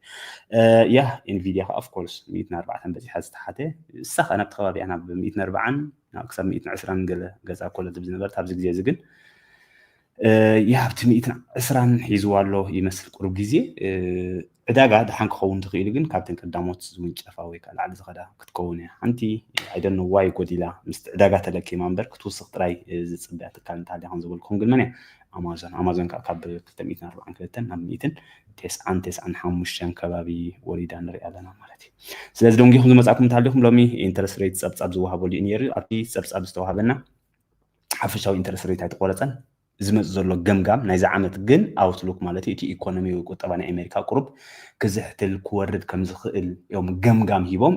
ያ ኢንቪድያ ከዓ ኦፍኮርስ ሚእትን ኣርባዕተን በፂሓ ዝተሓተ እሳ ከዓ ናብቲ ከባቢያ ናብ ሚእትን ኣርባዓን ክሳብ ሚእትን ዕስራን ገለ ገዛ ኮለ ዝብ ዝነበረት ኣብዚ ግዜ እዚ ግን ያ ኣብቲ ሚእትን ዕስራን ሒዝዋ ኣሎ ይመስል ቁሩብ ግዜ ዕዳጋ ደሓን ክኸውን ዝኽኢሉ ግን ካብተን ቀዳሞት ዝውንጨፋ ወይ ከዓ ላዕሊ ዝኸዳ ክትከውን እያ። ሓንቲ ኣይደኖ ዋይ ጎዲላ ምስቲ ዕዳጋ ተለኪማ እምበር ክትውስኽ ጥራይ ዝፅበያ ትካል እንተሃልያ ከምዝበልኩም ግን መን እያ? ኣማዞን ኣማዞን ከዓ ካብ ክልተ ሚእትን ኣርባዓን ክልተን ናብ ሚእትን ቴስዓን ቴስዓን ሓሙሽተን ከባቢ ወሪዳ ንሪኣ ኣለና ማለት እዩ ስለዚ ደንጊኹም ዝመፃእኩም እንተሃሊኹም ሎሚ ኢንተረስት ሬት ፀብፃብ ዝወሃበሉ እዩ ነይሩ ኣብቲ ፀብፃብ ዝተዋሃበና ሓፈሻዊ ኢንተረስት ሬት ኣይተቆረፀን ዝመጽእ ዘሎ ገምጋም ናይዚ ዓመት ግን ኣውትሉክ ማለት እዩ እቲ ኢኮኖሚዊ ቁጠባ ናይ ኣሜሪካ ቁሩብ ክዝሕትል ክወርድ ከም ዝኽእል እዮም ገምጋም ሂቦም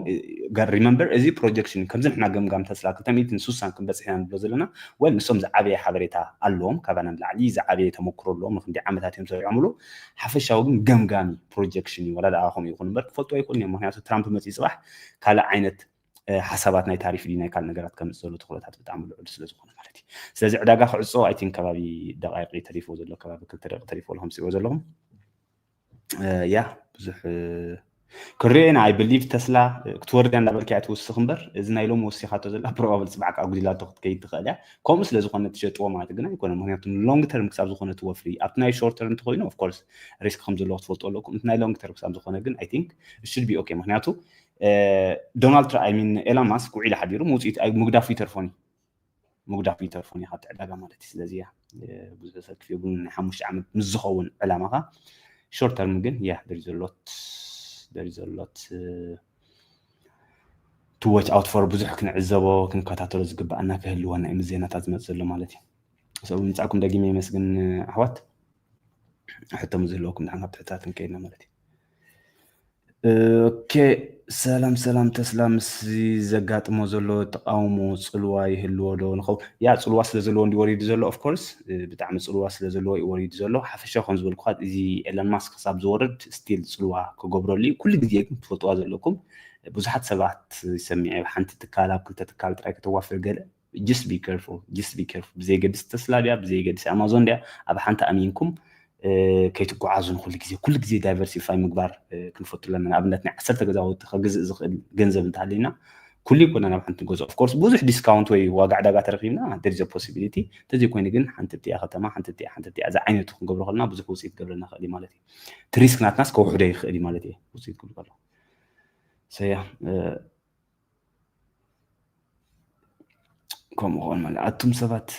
ሪመምበር እዚ ፕሮጀክሽን ከምዚ ንሕና ገምጋም ተስላ 260 ክንበጽሕ ኢና ንብሎ ዘለና ወል ንሶም ዝዓበየ ሓበሬታ ኣለዎም ካባና ንላዕሊ ዝዓበየ ተመክሮ ኣለዎም ንክንደይ ዓመታት እዮም ሰሪዖምሉ ሓፈሻዊ ግን ገምጋም ፕሮጀክሽን እዩ ወላ ደኣ ከምኡ ይኹን እምበር ክፈልጡ ኣይክእሉን እዮም ምክንያቱ ትራምፕ መጽኢ ጽባሕ ካልእ ዓይነት ሓሳባት ናይ ታሪፍ ድዩ ናይ ካልእ ነገራት ከምፅ ዘሎ ትኽእሎታት ብጣዕሚ ልዑል ስለ ዝኾነ ማለት እዩ ስለዚ ዕዳጋ ክዕፆ ኣይቲን ከባቢ ደቃይቂ ተሪፎ ዘሎ ከባቢ ክልተ ደቂ ተሪፎ ኣለኹም ፅዎ ዘለኹም ያ ብዙሕ ክሪኦ ኢና ኣይ ብሊቭ ተስላ ክትወርድ እያ እንዳበልካ እያ ትውስኽ እምበር እዚ ናይ ሎሚ ወሲኻቶ ዘላ ፕሮባብል ፅባሕ ከዓ ጉዲላቶ ክትከይድ ትኽእል እያ ከምኡ ስለ ዝኾነ ትሸጥዎ ማለት ግን ኣይኮነ ምክንያቱ ሎንግ ተርም ክሳብ ዝኾነ ትወፍሪ ኣብቲ ናይ ሾርት ተርም እንተኮይኑ ኦፍኮርስ ሪስክ ከም ዘለዎ ክትፈልጡ ኣለኩም እቲ ናይ ሎንግ ተርም ክሳብ ዝኾነ ግን ኣይ ቲንክ ሽድ ቢ ኦኬ ምክንያቱ ዶናልድ ትራ ኣይ ሚን ኤላን ማስክ ውዒሉ ሓዲሩ ምውፅኢት ምግዳፉ ይተርፎን እዩ ምግዳፉ ይተርፎን እዩ ካብቲ ዕዳጋ ማለት እዩ ስለዚ እያ ብዙሕ ሰብ ክፍዮ ግን ናይ ሓሙሽተ ዓመት ምስ ዝኸውን ዕላማኻ ሾርት ተርም ግን እያ ደሪ ዘሎት ደሪ ዘሎት ትወች ኣውት ፎር ብዙሕ ክንዕዘቦ ክንከታተሎ ዝግባኣና ክህልወና እዩ ምስ ዜናታት ዝመፅ ዘሎ ማለት እዩ ሰው ምምፃእኩም ደጊመ የመስግን ኣሕዋት ሕቶ ዝህለወኩም ድሓን ካብቲ ሕታት ክንከይድና ማለት እዩ ኦኬ ሰላም ሰላም ተስላ ምስ ዘጋጥሞ ዘሎ ተቃውሞ ፅልዋ ይህልዎ ዶ ንኸውን ያ ፅልዋ ስለ ዘለዎ እንዲ ወሪዱ ዘሎ ኦፍኮርስ ብጣዕሚ ፅልዋ ስለ ዘለዎ እዩ ወሪዱ ዘሎ ሓፈሻ ከም ዝበልኩ እዚ ኤለን ማስክ ክሳብ ዝወርድ ስቲል ፅልዋ ክገብረሉ እዩ ኩሉ ግዜ ግን ትፈልጥዋ ዘለኩም ብዙሓት ሰባት ይሰሚዐ ሓንቲ ትካል ኣብ ክልተ ትካል ጥራይ ከተዋፍር ገለ ጅስት ቢ ኬርፉል ጅስት ቢ ኬርፉል ብዘየገድስ ተስላ ድያ ብዘየገድስ ኣማዞን ድያ ኣብ ሓንቲ ኣሚንኩም ከይትጓዓዙ ንኩሉ ግዜ ኩሉ ግዜ ዳይቨርሲፋይ ምግባር ክንፈቱ ኣለና ንኣብነት ናይ ዓሰርተ ገዛውቲ ከግዝእ ዝኽእል ገንዘብ እንተሃለና ኩሉ ይኮነ ናብ ሓንቲ ገዛ ኦፍኮርስ ብዙሕ ዲስካውንት ወይ ዋጋ ዕዳጋ ተረኪብና ደሪዘ ፖሲቢሊቲ እንተዘይኮይኑ ግን ሓንቲ እቲኣ ከተማ ሓንቲ እቲኣ ሓንቲ እቲኣ እዚ ዓይነቱ ክንገብሮ ከለና ብዙሕ ውፅኢት ገብረና ክእል ማለት እዩ እቲ ሪስክ ናትናስ ከውሕዶ ይኽእል ማለት እዩ ውፅኢት ክብሉ ከለኩ ሰያ ከምኡ ክኾን ማለት ኣቱም ሰባት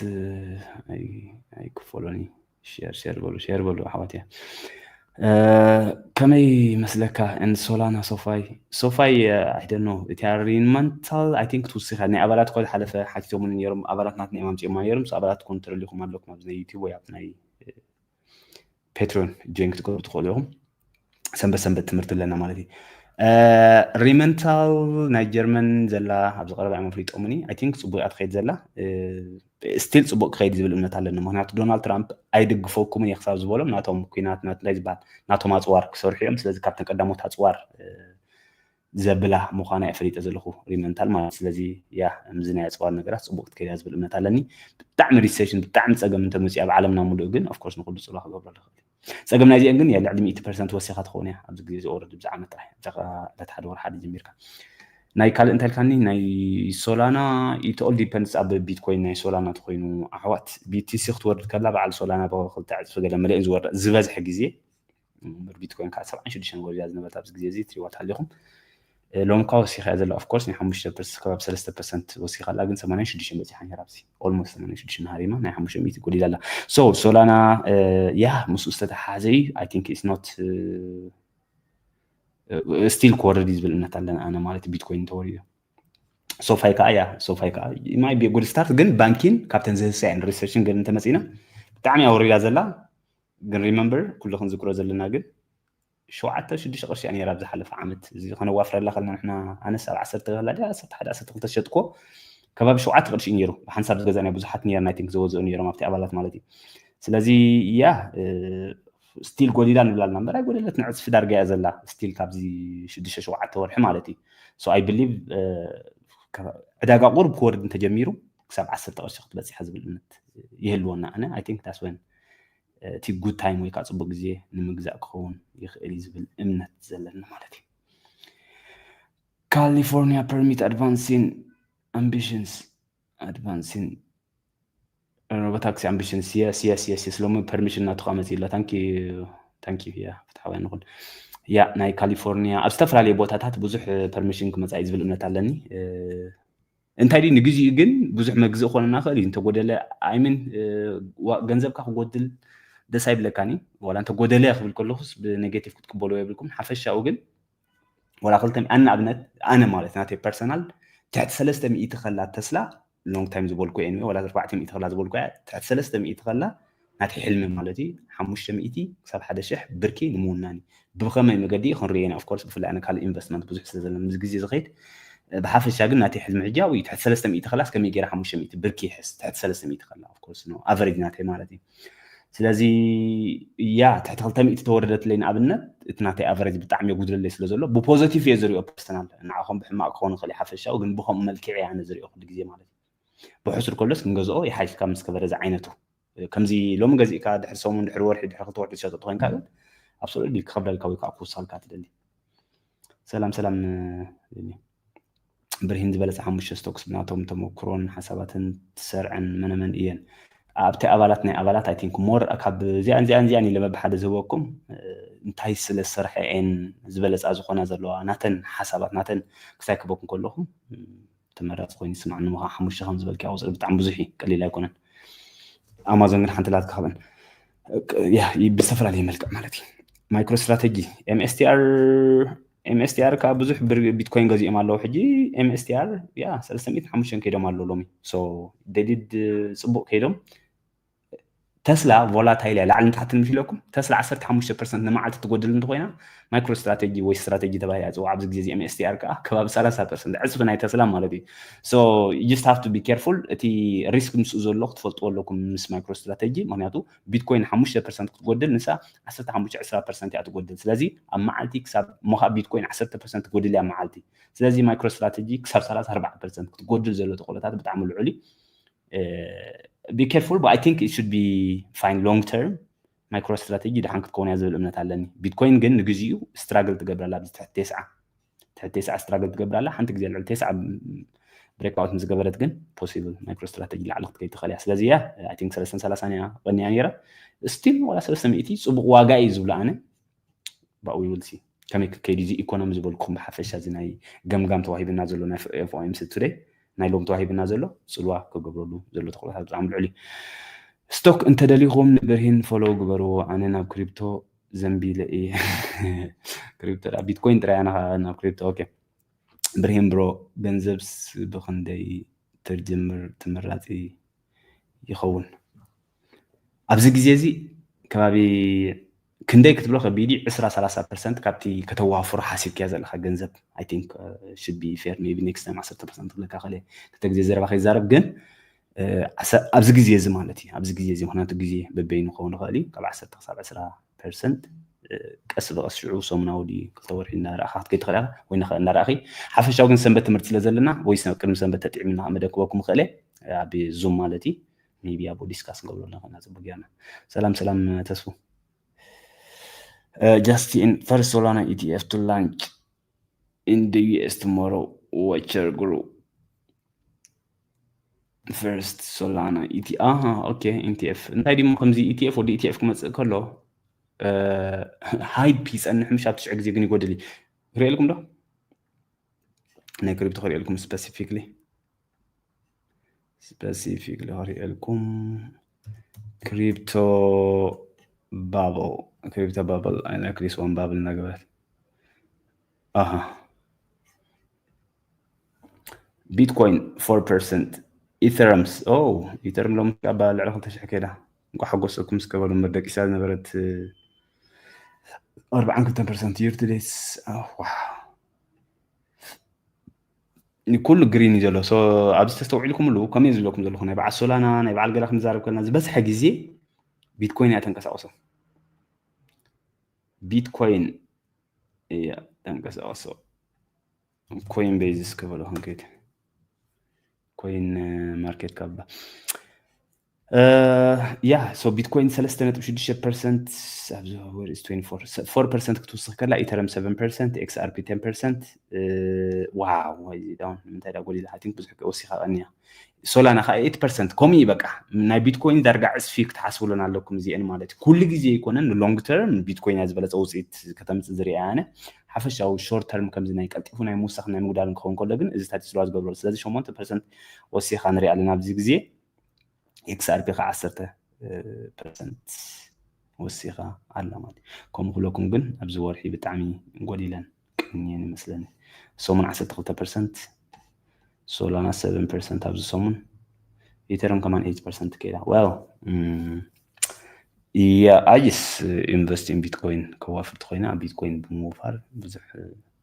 ኣይክፈሎን እዩ ሸር ሸር በሉ ሸር በሉ ኣሕዋት እያ ከመይ መስለካ ን ሶላና ሶፋይ ሶፋይ ኣይደኖ እቲ ሪንማንታል ኣይ ቲንክ ትውስኻ ናይ ኣባላት ኮ ዝሓለፈ ሓቲቶሙኒ ነይሮም ኣባላት ናትና እዮም ኣምፅኦማ ነይሮም ኣባላት ኮ ተረሊኹም ኣለኩም ኣብዚ ናይ ዩቲብ ወይ ኣብ ናይ ፔትሮን ጆይን ክትገብሩ ትኽእሉ ኢኹም ሰንበት ሰንበት ትምህርቲ ኣለና ማለት እዩ ሪመንታል ናይ ጀርመን ዘላ ኣብዚ ቀረባ እዮም ኣፍሊጦምኒ ኣይ ቲንክ ፅቡቅ እያ ትኸይድ ዘላ ስቲል ፅቡቅ ክኸይድ ዝብል እምነት ኣለኒ ምክንያቱ ዶናልድ ትራምፕ ኣይድግፈኩምን እየ ክሳብ ዝበሎም ናቶም ኩናት እንታይ ዝበሃል ናቶም ኣፅዋር ክሰርሑ እዮም ስለዚ ካብተን ቀዳሞት ኣፅዋር ዘብላ ምዃና እየ ፈሊጠ ዘለኹ ሪመንታል ማለት ስለዚ ያ ምዚ ናይ ኣፅዋር ነገራት ፅቡቅ ክትከይድ እያ ዝብል እምነት ኣለኒ ብጣዕሚ ሪሴሽን ብጣዕሚ ፀገም እንተመፅኡ ኣብ ዓለምና ሙሉእ ግን ኦፍኮርስ ንኩሉ ፅልዋ ክገብረሉ ይኽእል ፀገም ናይዚአን ግን ልዕሊ ሚእቲ ፐርሰንት ወሲኻ ትኸውን እያ ኣብዚ ግዜ ዝወርድ ብዚ ዓመት ጥራሕ ዕዳጋ ዕለት ሓደ ወር ሓደ ጀሚርካ ናይ ካልእ እንታይ ኢልካኒ ናይ ሶላና ኢት ኦል ዲፐንድስ ኣብ ቢትኮይን ናይ ሶላና ተኮይኑ ኣሕዋት ቢቲሲ ክትወርድ ከላ በዓል ሶላና ብክልተ ዕፅፊ ገለ መለእን ዝወርድ ዝበዝሐ ግዜ ን ቢትኮይን ካኣ ሰብዓን ሽዱሽተን ወሪዳ እያ ዝነበረት ኣብዚ ግዜ እዚ ትሪእዋ ተሃሊኩም ሎሚ እኳ ወሲካ እያ ዘላ ኦፍ ኮርስ ናይ ሓሙሽተ ፐርስ ከባቢ ሰለስተ ፐርሰንት ወሲካ ኣላ ግን ሰማንያን ሽዱሽተን በጺሓ ነይራ ኣብዚ ኦልሞስት ሰማንያን ሽዱሽተን ሃሪማ ናይ ሓሙሽተ ሚእቲ ጎዲላ ኣላ ሶ ሶላና ያ ምስኡ ዝተተሓሓዘ እዩ ኣይ ቲንክ ኢትስ ኖት ስቲል ክወርድ እዩ ዝብል እምነት ኣለና ኣነ ማለት ቢትኮይን እንተወሪዱ ሶፋይ ከዓ እያ ሶፋይ ከዓ ማይ ጉድ ስታርት ግን ባንኪን ካብተን ዝህሳ እየን ሪሰርችን ግን እንተመፂና ብጣዕሚ ኣወሪዳ ዘላ ግን ሪመምበር ኩሉ ክንዝክሮ ዘለና ግን ሸውዓተ ሽዱሽተ ቅርሺ እያ ነይራ ኣብ ዝሓለፈ ዓመት እዚ ከነዋፍረላ ከለና ንሕና ኣነስ ኣብ ዓሰርተ ከላ ድያ ዓሰርተ ሓደ ዓሰርተ ክልተ ዝሸጥኩዎ ከባቢ ሸውዓተ ቅርሺ እዩ ነይሩ ብሓንሳብ ዝገዛእናዮ ብዙሓት ነይርና ኣይ ቲንክ ዘወዝኡ ነይሮም ኣብቲ ኣባላት ማለት እዩ ስለዚ ያ ስቲል ጎዲላ ንብላ ኣለና እምበር ኣይጎደለት ንዕፅፊ ዳርጋ እያ ዘላ ስቲል ካብዚ ሽዱሽተ ሸውዓተ ወርሒ ማለት እዩ ሶ ኣይ ብሊቭ ዕዳጋ ቁርብ ክወርድ እንተጀሚሩ ክሳብ ዓሰርተ ቅርሺ ክትበፅሐ ዝብል እምነት ይህልወና ኣነ ኣይ ቲንክ ዳስ ወን እቲ ጉድ ታይም ወይ ከዓ ፅቡቅ ግዜ ንምግዛእ ክኸውን ይኽእል እዩ ዝብል እምነት ዘለና ማለት እዩ ካሊፎርኒያ ፐርሚት ኣድቫንሲን ኣምቢሽንስ ኣድቫንሲን ታክሲ ኣምቢሽንስ የስ የስ የስ የስ ሎሚ ፐርሚሽን ናቱካ መፅእ ኣሎ ታንኪ ታንኪ ያ ፍትሓውያን ንኹን ያ ናይ ካሊፎርኒያ ኣብ ዝተፈላለዩ ቦታታት ብዙሕ ፐርሚሽን ክመፃ እዩ ዝብል እምነት ኣለኒ እንታይ ድዩ ንግዚኡ ግን ብዙሕ መግዝእ ክኾነና ክእል እዩ እንተጎደለ ኣይምን ገንዘብካ ክጎድል ደስ ኣይብለካን እዩ ዋላ እንተ ጎደለ ክብል ከለኹስ ብኔጌቲቭ ክትቅበሉ የብልኩም ሓፈሻኡ ግን ዋላ ክልተ ኣነ ኣብነት ኣነ ማለት ናተይ ፐርሰናል ትሕቲ ሰለስተ ሚእቲ ከላ ተስላ ሎንግ ታይም ዝበልኩ እየ ዋላ ኣርባዕተ ሚእቲ ከላ ዝበልኩ እያ ትሕቲ ሰለስተ ሚእቲ ከላ ናተይ ሕልሚ ማለት እዩ ሓሙሽተ ሚእቲ ክሳብ ሓደ ሽሕ ብርኪ ንምውናን እዩ ብከመይ መገዲ እዩ ክንሪኦ ኢና ኦፍኮርስ ብፍላይ ኣነ ካልእ ኢንቨስትመንት ብዙሕ ስለ ዘለኒ ምስ ግዜ ዝኸይድ ብሓፈሻ ግን ናተይ ሕልሚ ሕጂ ኣብኡ እዩ ትሕቲ ሰለስተ ሚእቲ ከላስ ከመይ ገይረ ሓሙሽተ ሚእቲ ብርኪ ይሕስ ትሕቲ ሰለስተ ሚእቲ ከላ ኦፍኮርስ ኖ ኣቨሬጅ ናተይ ማለት እዩ ስለዚ ያ ትሕቲ ክልተ ሚእቲ ተወረደትለይ ንኣብነት እቲ ናተይ ኣቨሬጅ ብጣዕሚ የጉድለለይ ስለ ዘሎ ብፖዘቲቭ እየ ዝሪኦ ፐርሰናል ንዓኹም ብሕማቅ ክኸውን ይኽእል ሓፈሻዊ ግን ብከምኡ መልክዕ እየ ኣነ ዝሪኦ ኩሉ ግዜ ማለት እዩ ብሑሱር ከሎስ ክንገዝኦ ይሓይሽ ካብ ምስ ከበረ ዝዓይነቱ ከምዚ ሎሚ ገዚእካ ድሕሪ ሰሙን ድሕሪ ወርሒ ድሕሪ ክልተ ወርሒ ዝሸጠጡ ኮይንካ ግን ኣብ ስዑዲ ዲል ክኸብደልካ ወይ ከዓ ክውሳልካ ትደሊ ሰላም ሰላም ብርሂን ዝበለፀ ሓሙሽተ ስቶክስ ብናቶም ተመክሮን ሓሳባትን ትሰርዐን መነመን እየን ኣብቲ ኣባላት ናይ ኣባላት ኣይ ቲንክ ሞር ካብ እዚኣን እዚኣን እዚኣን ኢለ መብሓደ ዝህበኩም እንታይ ስለ ዝሰርሐ እየን ዝበለፃ ዝኾና ዘለዋ ናተን ሓሳባት ናተን ክሳይ ክበኩም ከለኹም ተመራጺ ኮይኑ ይስምዓኒ እሞ ከኣ ሓሙሽተ ከም ዝበልክያ ቁጽሪ ብጣዕሚ ብዙሕ እዩ ቀሊል ኣይኮነን ኣማዞን ግን ሓንቲ ላትካ ካብን ብዝተፈላለየ መልክዕ ማለት እዩ ማይክሮ ስትራቴጂ ኤምኤስቲኣር ኤምኤስቲኣር ከዓ ብዙሕ ቢትኮይን ገዚኦም ኣለዉ ሕጂ ኤምኤስቲኣር ያ ሰለስተ ሚእትን ሓሙሽተን ከይዶም ኣለዉ ሎሚ ሶ ደሊድ ፅቡቅ ከይዶም ተስላ ቮላታይል እያ ላዕልን ታሕትን ምስ ኢለኩም ተስላ 15 ፐርሰንት ንመዓልቲ ትጎድል እንተኮይና ማይክሮ ስትራቴጂ ወይ ስትራቴጂ ተባሂላ ፅዋዕ ኣብዚ ግዜ እዚ ኤምኤስቲኣር ከዓ ከባቢ 30 ፐርሰንት ዕፅፊ ናይ ተስላ ማለት እዩ ሶ ጅስት ሃፍቱ ቢ ኬርፉል እቲ ሪስክ ምስኡ ዘሎ ክትፈልጥዎ ኣለኩም ምስ ማይክሮ ስትራቴጂ ምክንያቱ ቢትኮይን 5 ፐርሰንት ክትጎድል ንሳ 15 20 ፐርሰንት እያ ትጎድል ስለዚ ኣብ መዓልቲ ክሳብ እሞ ከዓ ቢትኮይን 10 ፐርሰንት ትጎድል እያ መዓልቲ ስለዚ ማይክሮ ስትራቴጂ ክሳብ 34 ፐርሰንት ክትጎድል ዘሎ ተኽእሎታት ብጣዕሚ ልዑል እዩ ቢ ኬርፉል በት ኣይ ቲንክ ኢት ሹድ ቢ ፋይን ሎንግ ተርም ማይክሮ ስትራተጂ ደሓን ክትከውን እያ ዝብል እምነት ኣለኒ ቢትኮይን ግን ንግዚኡ ስትራግል ትገብር ኣላ ኣብዚ ትሕቲ ቴስዓ ትሕቲ ቴስዓ ስትራግል ትገብር ኣላ ሓንቲ ግዜ ልዕሊ ቴስዓ ብሬክኣውት ምስ ገበረት ግን ፖሲብል ማይክሮ ስትራተጂ ላዕሊ ክትከይድ ትኽእል እያ ስለዚ እያ ኣይ ቲንክ ሰለስተን ሰላሳን እያ ቀኒያ ነይራ ስቲል ዋላ ሰለስተ ሚእቲ ፅቡቕ ዋጋ እዩ ዝብሎ ኣነ but we will see ከመይ ክከይድ እዚ ኢኮኖሚ ዝበልኩም ብሓፈሻ እዚ ናይ ገምጋም ተዋሂብና ዘሎ ናይ ኤፍኦኤምሲ ቱደይ ናይ ሎም ተዋሂብና ዘሎ ፅልዋ ክገብረሉ ዘሎ ተኽእሎታት ብጣዕሚ ልዑል እዩ ስቶክ እንተደሊኹም ንብርሂን ፎሎው ግበርዎ ኣነ ናብ ክሪፕቶ ዘንቢለ እየ ክሪፕቶ ቢትኮይን ጥራይ ኣነ ናብ ክሪፕቶ ኦኬ ብርሂን ብሮ ገንዘብስ ብክንደይ ተጀምር ተመራፂ ይኸውን ኣብዚ ግዜ እዚ ከባቢ ክንደይ ክትብሎ ከቢድ እዩ ዕስራ ሰላሳ ፐርሰንት ካብቲ ከተዋፍሮ ሓሲብክዮ ዘለካ ገንዘብ ኣይ ቲንክ ሽድ ቢ ፌር ሜቢ ኔክስት ታይም ዓሰርተ ፐርሰንት ክብለካ ክእል እየ ክልተ ግዜ ዘረባ ከይዛረብ ግን ኣብዚ ግዜ እዚ ማለት እዩ ኣብዚ ግዜ እዚ ምክንያቱ ግዜ በበይኑ ክኸውን ይኽእል እዩ ካብ ዓሰርተ ክሳብ ዕስራ ፐርሰንት ቀስ ብቐስ ሽዑ ሰሙናዊ ድዩ ክልተ ወርሒ እናረእኻ ክትከይ ትኽእል ኢኻ ወይ ንኸ እናረእኺ ሓፈሻዊ ግን ሰንበት ትምህርቲ ስለ ዘለና ወይ ቅድሚ ሰንበት ተጥዒምና መደክበኩም ክእል ኣብ ዙም ማለት እዩ ሜቢ ኣብኡ ዲስካስ ንገብሮ ኣለና ፅቡቅ ጌርና ሰላም ሰላም ተስፉ ጃስቲን ፈርስት ሶላና ኢቲኤፍ ቱ ላንች ኢን ደ ዩኤስ ቱሞሮ ዋቸር ግሩ ፈርስት ሶላና ኢቲ ኣሃ ኦኬ ኢንቲኤፍ እንታይ ድሞ ከምዚ ኢቲኤፍ ወዲ ኢቲኤፍ ክመፅእ ከሎ ሃይፕ ይፀንሕ ምሽ ኣብ ትሽዑ ግዜ ግን ይጎድል እዩ ክሪኤልኩም ዶ ናይ ክሪፕቶ ክሪኤልኩም ስፐሲፊክሊ ስፐሲፊክ ልክሪኤልኩም ክሪፕቶ ባብል ክሪፕቶ ባብል ኣይነ ክሪስ ዋን ባብል እናገበረት ኣሃ ቢትኮይን ፎር ፐርሰንት ኢተረምስ ኦ ኢተርም ሎም ኣባ ልዕሊ ክልተ ሽሕ ከይዳ እንኳ ሓጎሰኩም እስከ በሉ እምበር ደቂሳ ዝነበረት ኣርባዓን ክልተን ፐርሰንት ይርትዴስ ዋ ኩሉ ግሪን እዩ ዘሎ ኣብዚ ተስተውዒልኩምሉ ከምኡ ዝብለኩም ዘለኹ ናይ በዓል ሶላና ናይ በዓል ገለ ክንዛረብ ከለና ዝበዝሐ ግዜ ቢትኮይን እያ ተንቀሳቕሶ ቢትኮይን እያ ተንቀሳቐሶ ኮይን ቤዝስ ክበሎ ክንከይድ ኮይን ማርኬት ካባ ያ ሶ ቢትኮይን ሰለስተ ነጥቢ ሽዱሽተ ፐርሰንት ኣብዚ ወርስ ፎር ፐርሰንት ክትውስኽ ከላ ኢተረም ሰቨን ፐርሰንት ኤክስኣርፒ ቴን ፐርሰንት ዋው ዳውን ንምንታይ ዳ ጎሊላ ኣይ ቲንክ ብዙሕ ወሲኻ ቀኒያ ሶላና ከዓ ኤት ፐርሰንት ከምኡ እዩ በቃ ናይ ቢትኮይን ዳርጋ ዕፅፊ ክትሓስብሉን ኣለኩም እዚአን ማለት እዩ ኩሉ ግዜ ይኮነን ንሎንግ ተርም ቢትኮይን እያ ዝበለፀ ውፅኢት ከተምፅእ ዝርያ ኣነ ሓፈሻዊ ሾርት ተርም ከምዚ ናይ ቀልጢፉ ናይ ምውሳኽ ናይ ምጉዳልን ክኸውን ከሎ ግን እዚ ታቲስለዋ ዝገብረሉ ስለዚ ሸሞንተ ፐርሰንት ወሲኻ ንሪኣ ኣለና ኣብዚ ግዜ ኤክስኣርፒ ከዓ ዓሰርተ ፐርሰንት ወሲኻ ኣላ ማለት እዩ ከምኡ ክብለኩም ግን ኣብዚ ወርሒ ብጣዕሚ ጎዲለን ቅንየን ይመስለኒ ሰሙን ዓሰርተ ክልተ ፐርሰንት ሶላና ሰቨን ፐርሰንት ኣብዚ ሰሙን ኢተርም ከማን ኤይት ፐርሰንት ከይዳ ዌል እያ ኣጅስ ኢንቨስት ኢን ቢትኮይን ከዋፍርቲ ኮይና ኣብ ቢትኮይን ብምውፋር ብዙሕ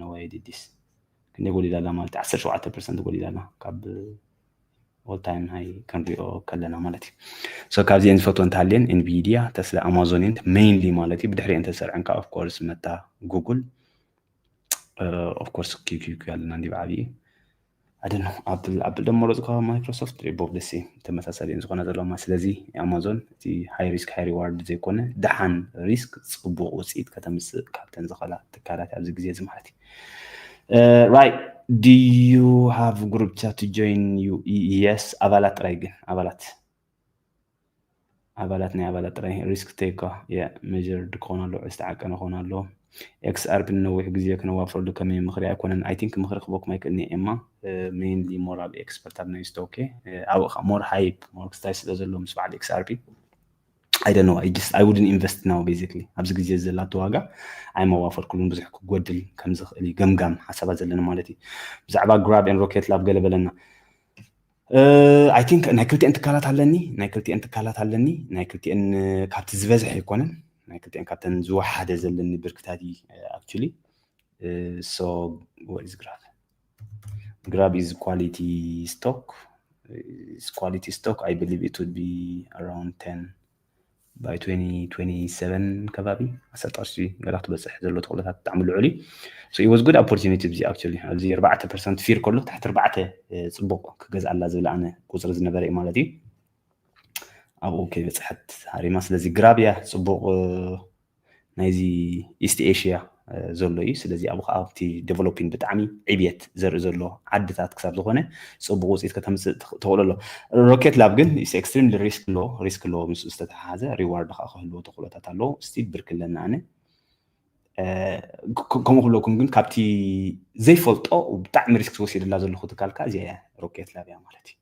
ነዋይ ዲዲስ ክንደይ ጎዲላ ኣላ ማለት እዩ ዓሰርተ ሸውዓተ ፐርሰንት ጎዲላ ኣላ ካብ ኦል ታይም ሃይ ክንሪኦ ከለና ማለት እዩ ሶ ካብዚአን ዝፈትወ እንተሃልየን ኢንቪድያ ተስላ ኣማዞን እየን ሜይንሊ ማለት እዩ ብድሕሪአን ተሰርዐን ከዓ ኦፍኮርስ መታ ጉግል ኦፍኮርስ ኪኪኪ ኣለና እንዲ ብዓብዪ ኣደን ኣብል ኣፕል ደሞ ዝካ ማይክሮሶፍት ሪቦብ ደሲ ተመሳሳሊ ን ዝኾነ ዘለማ ስለዚ ኣማዞን እቲ ሃይ ሪስክ ሃይ ሪዋርድ ዘይኮነ ደሓን ሪስክ ፅቡቅ ውፅኢት ከተምፅእ ካብተን ዝኸላ ትካላት ኣብዚ ግዜ እዚ ማለት እዩ ራይ ዲዩ ሃቭ ግሩፕ ቻት ጆይን ዩ የስ ኣባላት ጥራይ ግን ኣባላት ኣባላት ናይ ኣባላት ጥራይ ሪስክ ተይኳ መዠርድ ክኾኑ ኣለዎም፣ ዝተዓቀነ ክኾኑ ኣለዎም። XRP ንነዊሕ ግዜ ክነዋፍረሉ ከመይ ምኽሪ ኣይኮነን። I think ምኽሪ ክህበኩም ኣይክእልን እየ ኤማ ሜይንሊ ሞር ኣብ ኤክስፐርት ኣብ ኖይዝ ቶኬ ኣብኡ ከኣ ሞር ሃይፕ ሞር ክስታይ ስለ ዘለዎ ምስ በዓል XRP I don't know I just I wouldn't invest now basically ኣብዚ ግዜ እዚ ዘላቶ ዋጋ ኣይመዋፈርኩሉን ብዙሕ ክጎድል ከም ዝኽእል እዩ ገምጋም ሓሳባት ዘለና ማለት እዩ ብዛዕባ ግራብ ን ሮኬት ላብ ገለ በለና ኣይ ቲንክ ናይ ክልቲኤን ትካላት ኣለኒ ናይ ክልቲኤን ትካላት ኣለኒ ናይ ክልቲኤን ካብቲ ዝበዝሐ ኣይኮነን ናይ ክልቲኤን ካብተን ዝወሓደ ዘለኒ ብርክታት እዩ ኣክቹሊ ሶ ወዝ ግራብ ግራብ ኢዝ ኳሊቲ ስቶክ ኳሊቲ ስቶክ ኣይ ብሊቭ ኢት ውድ ቢ ኣራውንድ 10 by twenty twenty seven ከባቢ ዓሰርተ ቅርሺ ገላ ክትበፅሕ ዘሎ ተኽእሎታት ብጣዕሚ ልዑል እዩ so it was good opportunity እዚ actually ኣብዚ ኣርባዕተ ፐርሰንት ፊር ከሎ ትሕቲ ኣርባዕተ ፅቡቕ ክገዝኣላ ዝብል ኣነ ቁፅሪ ዝነበረ እዩ ማለት እዩ ኣብኡ ከይበፅሐት ሃሪማ ስለዚ ግራብ እያ ፅቡቕ ናይዚ ኢስት ኤሽያ ዘሎ እዩ ስለዚ ኣብኡ ከዓ ኣብቲ ደቨሎፒን ብጣዕሚ ዕብየት ዘርኢ ዘሎ ዓድታት ክሳብ ዝኾነ ፅቡቅ ውፅኢት ከተምፅእ ተኽእሎ ኣሎ ሮኬት ላብ ግን ኢስ ኤክስትሪምሊ ሪስክ ኣሎ ሪስክ ኣለዎ ምስ ዝተተሓሓዘ ሪዋርድ ከዓ ክህልዎ ተኽእሎታት ኣለዎ ስቲል ብርክ ኣለኒ ኣነ ከምኡ ክብለኩም ግን ካብቲ ዘይፈልጦ ብጣዕሚ ሪስክ ዝወሲደላ ዘለኹ ትካልካ እዚኣ እያ ሮኬት ላብ እያ ማለት እዩ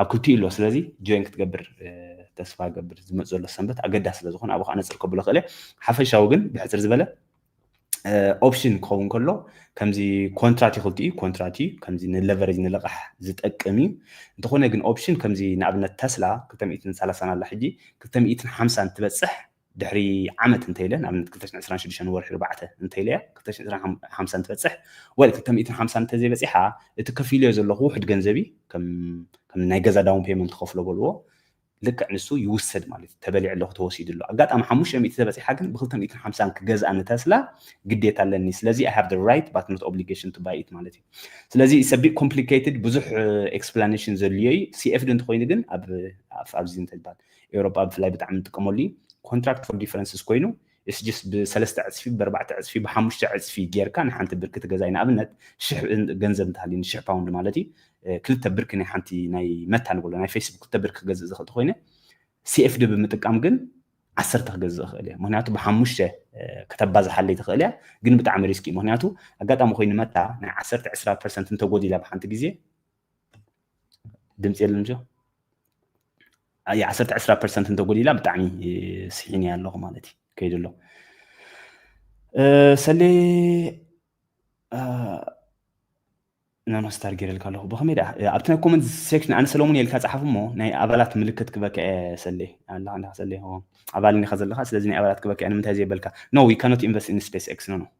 ኣብ ክልቲኡ ኣሎ ስለዚ ጆይን ክትገብር ተስፋ ገብር ዝመፅ ዘሎ ሰንበት ኣገዳሲ ስለ ዝኾነ ኣብኡ ከነፅር ከብሎ ክእለ ሓፈሻዊ ግን ብሕፅር ዝበለ ኦፕሽን ክኸውን ከሎ ከምዚ ኮንትራት እዩ ክልቲኡ ኮንትራት እዩ ከምዚ ንለቨሬጅ ንልቓሕ ዝጠቅም እዩ እንተኾነ ግን ኦፕሽን ከምዚ ንኣብነት ተስላ 230 ኣላ ሕጂ 250 ትበፅሕ ድሕሪ ዓመት እንተይለ ንኣብነት ክልተ ሽሕን ዕስራን ሽዱሽተን ወርሒ ኣርባዕተ እንተይለ እያ ክልተ ሽሕን ዕስራን ሓም- ሓምሳን ትበፅሕ ወል ክልተ ሚእትን ሓምሳን እንተዘይበፂሓ እቲ ከፊልዮ ዘለኹ ውሕድ ገንዘብ እዩ ከም ከም ናይ ገዛ ዳውን ፔመንት ከፍሎ በልዎ ልክዕ ንሱ ይውሰድ ማለት እዩ ተበሊዐ ኣለኹ ተወሲዱ ኣሎ ኣጋጣሚ ሓሙሽተ ሚእቲ ተበፂሓ ግን ብክልተ ሚእትን ሓምሳን ክገዝኣ ንተስላ ግዴታ ኣለኒ ስለዚ ኣይ ሃቭ ደ ራይት ባት ኖት ኦብሊጌሽን ቱ ባይ ኢት ማለት እዩ ስለዚ ኢትስ ቢት ኮምፕሊኬትድ ብዙሕ ኤክስፕላኔሽን ዘድልዮ እዩ ሲኤፍዲ እንተኮይኑ ግን ኣብ ኣብ- ኣብዚ እንተይባል ኤውሮጳ ብፍላይ ብጣዕሚ ንጥቀመሉ እዩ ኮንትራክት ፎር ዲፈረንስስ ኮይኑ እስ ጅስ ብሰለስተ ዕፅፊ ብኣርባዕተ ዕፅፊ ብሓሙሽተ ዕፅፊ ጌርካ ንሓንቲ ብርኪ ትገዛይ ንኣብነት ሽሕ ገንዘብ እንተሃልዩኒ ሽሕ ፓውንድ ማለት እዩ ክልተ ብርኪ ናይ ሓንቲ ናይ መታ ንብሎ ናይ ፌስቡክ ክልተ ብርኪ ክገዝእ ዝኽእል ተኮይነ ሲኤፍዲ ብምጥቃም ግን ዓሰርተ ክገዝእ ይኽእል እየ ምክንያቱ ብሓሙሽተ ከተባዝሓለይ ትኽእል እያ ግን ብጣዕሚ ሪስክ እዩ ምክንያቱ ኣጋጣሚ ኮይኑ መታ ናይ ዓሰርተ ዕስራ ፐርሰንት እንተጎዲላ ብሓንቲ ግዜ ድምፂ የለን ጆ ኣየ ዓሰርተ ዕስራ ፐርሰንት እንተጎዲላ ብጣዕሚ ስሒን እያ ኣለኹ ማለት እዩ ከይዱ ኣሎ ሰሌ ናኖ ስታር ገይረልካ ኣለኹ ብኸመይ ደኣ ኣብቲ ናይ ኮመንት ሴክሽን ኣነ ሰለሙን የልካ ፀሓፍ እሞ ናይ ኣባላት ምልክት ክበካ እየ ሰሌ ኣለካ ኣለካ ሰሌ ኣባል እንዲካ ዘለካ ስለዚ ናይ ኣባላት ክበካ እየ ንምንታይ ዘይበልካ ኖ ዊ ካኖት ኢንቨስት ኢን ስፔስ ኤክስ ኖ ኖ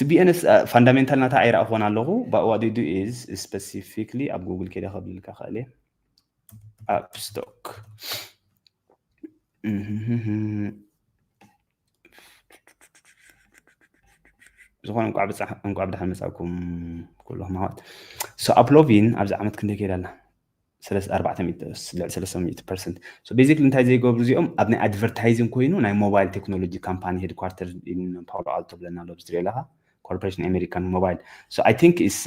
ትቢኤንስ ፋንዳሜንታል ናታ ኣይረኣኹዎን ኣለኹ ባኡ ዋዲዱ ኢዝ ስፐሲፊክሊ ኣብ ጉግል ከይደ ከብልልካ ክእል እየ ኣብ ስቶክ ዝኾነ እንቋዕ ብድሓን መፃኩም ኩሎም ኣሕዋት ሶ ኣፕሎቪን ኣብዚ ዓመት ክንደይ ከይዳ ኣላ ስለስ ኣርባዕተ ሚእቲ ስ- ልዕሊ ሰለስተ ሚእቲ ፐርሰንት ሶ ቤዚክሊ እንታይ ዘይገብሩ እዚኦም ኣብ ናይ ኣድቨርታይዚንግ ኮይኑ ናይ ሞባይል ቴክኖሎጂ ካምፓኒ ሄድኳርተር ኢን ፓውሎ ኣልቶ ብለና ኣሎ ብትሪኦ ኣለኻ ኮርፖሬሽን ኣሜሪካን ሞባይል ሶ ኣይ ቲንክ ኢስ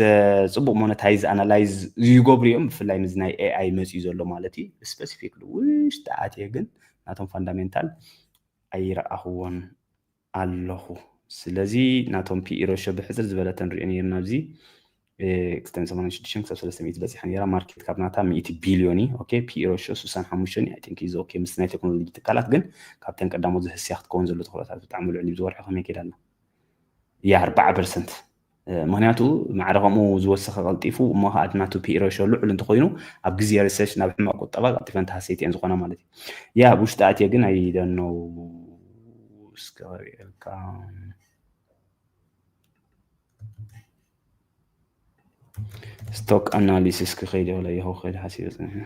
ጽቡቕ ሞነታይዝ ኣናላይዝ ይገብሩ እዮም ብፍላይ ምስ ናይ ኤኣይ መጽዩ ዘሎ ማለት እዩ ስፔሲፊክሊ ውሽጢ ኣትየ ግን ናቶም ፋንዳሜንታል ኣይረኣኽዎን ኣለኹ ስለዚ ናቶም ፒኢሮሾ ብሕጽር ዝበለ ተንሪኦ ነርና ኣብዚ ክስተን 86 ክሳብ 300 በጺሓ ነራ ማርኬት ካብ ናታ 100 ቢልዮን እዩ ኦኬ ፒኢሮሾ 65 እዩ ኣይ ቲንክ ኢዝ ኦኬ ምስ ናይ ቴክኖሎጂ ትካላት ግን ካብተን ቀዳሞት ዝህስያ ክትከውን ዘሎ ተኽእሎታት ብጣዕሚ ልዑል እዩ ዝወርሒ ከመይ ከይዳልና ያ 4 ፐርሰንት ምክንያቱ ማዕረ ከምኡ ዝወሰኸ ቀልጢፉ እሞ ከዓ እቲ ናቱ ፒኢ ሬሾ ልዑል እንተኮይኑ ኣብ ግዜ ሪሰሽ ናብ ሕማቕ ቁጠባ ቀልጢፈን ተሃሰይቲ እየን ዝኾና ማለት እዩ ያ ኣብ ውሽጢ ኣትየ ግን ኣይ ደኖው እስከ ክሪኤልካ ስቶክ ኣናሊሲስ ክኸይድ የብለ ይኸው ክኸይድ ሓሲበ ፅኒሐ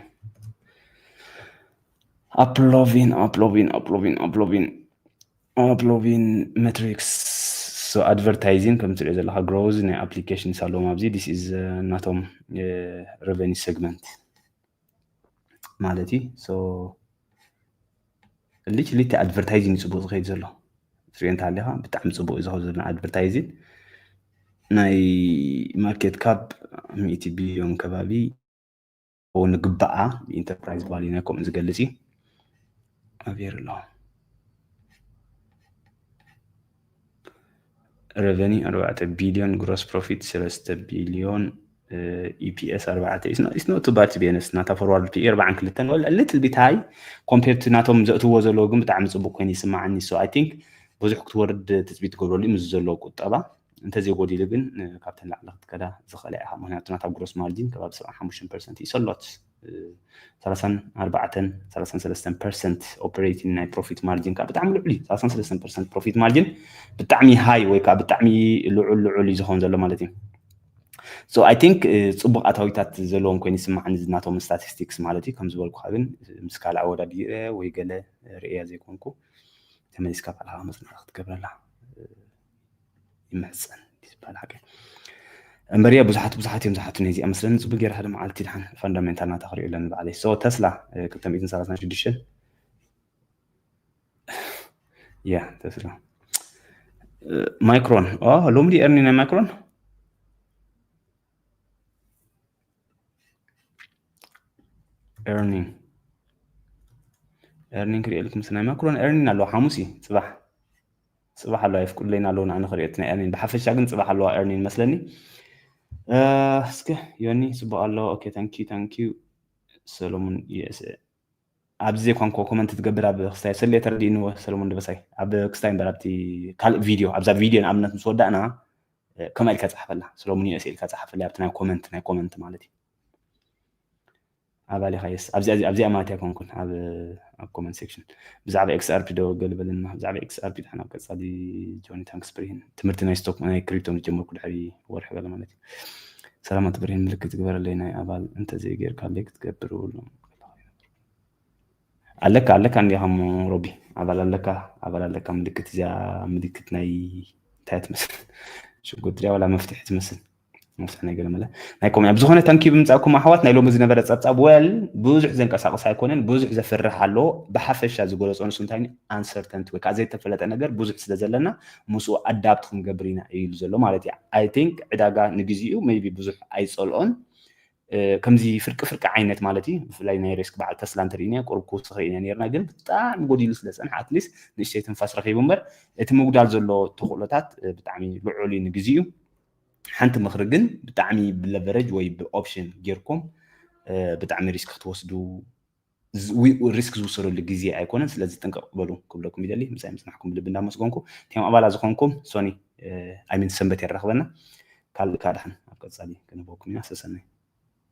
ኣፕሎቪን ኣፕሎቪን ኣፕሎቪን ኣፕሎቪን ኣውትሎቪን መትሪክስ ኣድቨርታይዚንግ ከም ትሪኦ ዘለካ ግሮዝ ናይ ኣፕሊኬሽንስ ኣለዎም ኣብዚ ዲስ ኢዝ ናቶም ረቨኒ ሰግመንት ማለት እዩ ሶ ልጅ ልቲ ኣድቨርታይዚንግ ፅቡቅ ዝኸይድ ዘሎ ትሪኦ እንተሃሊኻ ብጣዕሚ ፅቡቅ እዩ ዝኸ ዘሎ ኣድቨርታይዚንግ ናይ ማርኬት ካፕ ሚእቲ ቢልዮን ከባቢ ክኸውን ንግባኣ ኢንተርፕራይዝ ቫልዩ ናይ ከምኡ ዝገልፅ እዩ ኣብር ኣሎ ረቨኒ ኣርባዕተ ቢልዮን ግሮስ ፕሮፊት ሰለስተ ቢልዮን ኢፒኤስ ኣርባዕተ ኢስኖቱ ባድ ቢነስ ናታ ፎርዋርድ ፒኢ ኣርባዓን ክልተን ልትል ቢት ሃይ ኮምፔርት ናቶም ዘእትዎ ዘለዎ ግን ብጣዕሚ ፅቡቅ ኮይኑ ይስማዓኒ ሶ ኣይ ቲንክ ብዙሕ ክትወርድ ትፅቢት ትገብረሉ ምስ ዘሎ ቁጠባ እንተዘይጎዲሉ ግን ካብተን ላዕሊ ክትከዳ ዝኽእላ ኢኻ ምክንያቱ ናታ ግሮስ ማርጂን ከባቢ ሰብዓን ሓሙሽተን ፐርሰንት እዩ ሰሎት ሰላሳን ኣርባዕተን ሰላሳን ሰለስተን ፐርሰንት ኦፐሬቲንግ ናይ ፕሮፊት ማርጂን ከዓ ብጣዕሚ ልዑል እዩ ሰላሳን ሰለስተን ፐርሰንት ፕሮፊት ማርጂን ብጣዕሚ ሃይ ወይ ከዓ ብጣዕሚ ልዑል ልዑል እዩ ዝኸውን ዘሎ ማለት እዩ ሶ ኣይ ቲንክ ፅቡቅ ኣታዊታት ዘለዎም ኮይኑ ይስማዓኒ ዝናቶም ስታቲስቲክስ ማለት እዩ ከም ዝበልኩካ ግን ምስ ካልእ ኣወዳዲረ ወይ ገለ ርእያ ዘይኮንኩ ተመሊስካ ባዕልካ መፅናዕቲ ክትገብረላ ይምሕፀን ዝበሃል ሓቂ እምበር እያ ብዙሓት ብዙሓት እዮም ዝሓቱኒ እዚኣ መስለኒ ፅቡቅ ገይረ ሓደ መዓልቲ ድሓን ፋንዳሜንታል ናታ ክሪኦ ኣለኒ ባዕለይ ሶ ተስላ 236 ያ ተስላ ማይክሮን ሎሚ ድዩ ኤርኒ ናይ ማይክሮን ኤርኒንግ ኤርኒንግ ክሪኦ ልኩም ናይ ማይክሮን ኤርኒንግ ኣለዎ ሓሙስ እዩ ፅባሕ ጽባሕ ኣለዋ የፍቅዱለይና ኣለዉ ንኣነ ክርእዮትና ኣሜን ብሓፈሻ ግን ጽባሕ ኣለዋ ኤርኒን መስለኒ እስከ ዮኒ ጽቡቅ ኣለዎ ኦኬ ታንኪዩ ታንኪዩ ሰለሙን ዩኤስኤ ኣብዚ ዘይኮንኮ ኮመንት ትገብር ኣብ ክስታይ ሰለ ተረዲእንዎ ሰለሙን ደበሳይ ኣብ ክስታይ እምበር ኣብቲ ካልእ ቪድዮ ኣብዛ ቪድዮ ንኣብነት ምስ ወዳእና ከምኣ ኢልካ ጸሓፈላ ሰለሙን ዩኤስኤ ኢልካ ጸሓፈላ ኣብቲ ናይ ኮመንት ናይ ኮመንት ማለት እዩ ኣባል ኢኻ የስ ኣብዚኣ እዚኣ ኣብዚኣ ማት ኣይኮንኩን ኣብ ኣብ ኮመንት ሴክሽን ብዛዕባ ኤክስ ኣርፒ ዶ ገል በለና ብዛዕባ ኤክስ ኣርፒ ድሓን ኣብ ቀጻሊ ጆኒ ታንክስ ብርሂን ትምህርቲ ናይ ስቶክ ናይ ክሪፕቶ ምስ ጀመርኩ ድሕሪ ወርሒ ገለ ማለት እዩ ሰላማት ብርሂን ምልክት ዝግበረለይ ናይ ኣባል እንተዘይ ጌርካለይ ክትገብር እብሉ ኣለካ ኣለካ እንዲኻ እሞ ሮቢ ኣባል ኣለካ ኣባል ኣለካ ምልክት እዚኣ ምልክት ናይ እንታይ ትመስል ሽጉርትሪያ ዋላ መፍትሒ ትመስል ነፍሲ ነገር መለ ናይ ኮሚያ ብዝኾነ ተንኪ ብምፃእኩም ኣሕዋት ናይ ሎሚ ዝነበረ ፀብፃብ ወል ብዙሕ ዘንቀሳቕስ ኣይኮነን ብዙሕ ዘፍርሕ ኣሎ ብሓፈሻ ዝገለፆ ንሱ እንታይ ኣንሰርተንቲ ወይ ከዓ ዘይተፈለጠ ነገር ብዙሕ ስለ ዘለና ምስኡ ኣዳብት ክንገብር ኢና እዩ ኢሉ ዘሎ ማለት እዩ ኣይ ቲንክ ዕዳጋ ንግዚኡ መይቢ ብዙሕ ኣይፀልኦን ከምዚ ፍርቂ ፍርቂ ዓይነት ማለት እዩ ብፍላይ ናይ ሬስክ በዓል ተስላ እንተርእና ቁርብ ክውስኽ ኢና ነርና ግን ብጣዕሚ ጎዲሉ ስለ ፀንሐ ኣትሊስት ንእሽተይ ትንፋስ ረኺቡ እምበር እቲ ምጉዳል ዘሎ ተኽእሎታት ብጣዕሚ ልዑል እዩ ንግዚኡ ሓንቲ ምክሪ ግን ብጣዕሚ ብለቨረጅ ወይ ብኦፕሽን ጌርኩም ብጣዕሚ ሪስክ ክትወስዱ ሪስክ ዝውሰደሉ ግዜ ኣይኮነን ስለዚ ጥንቅቕ በሉ ክብለኩም ይደሊ ምሳይ ምፅናሕኩም ብልቢ እንዳመስገንኩ እቲም ኣባላ ዝኾንኩም ሶኒ ኣይሚን ሰንበት የራኽበና ካልእ ካድሓን ኣብ ቀፃሊ ክንህበኩም ኢና ሰሰናይ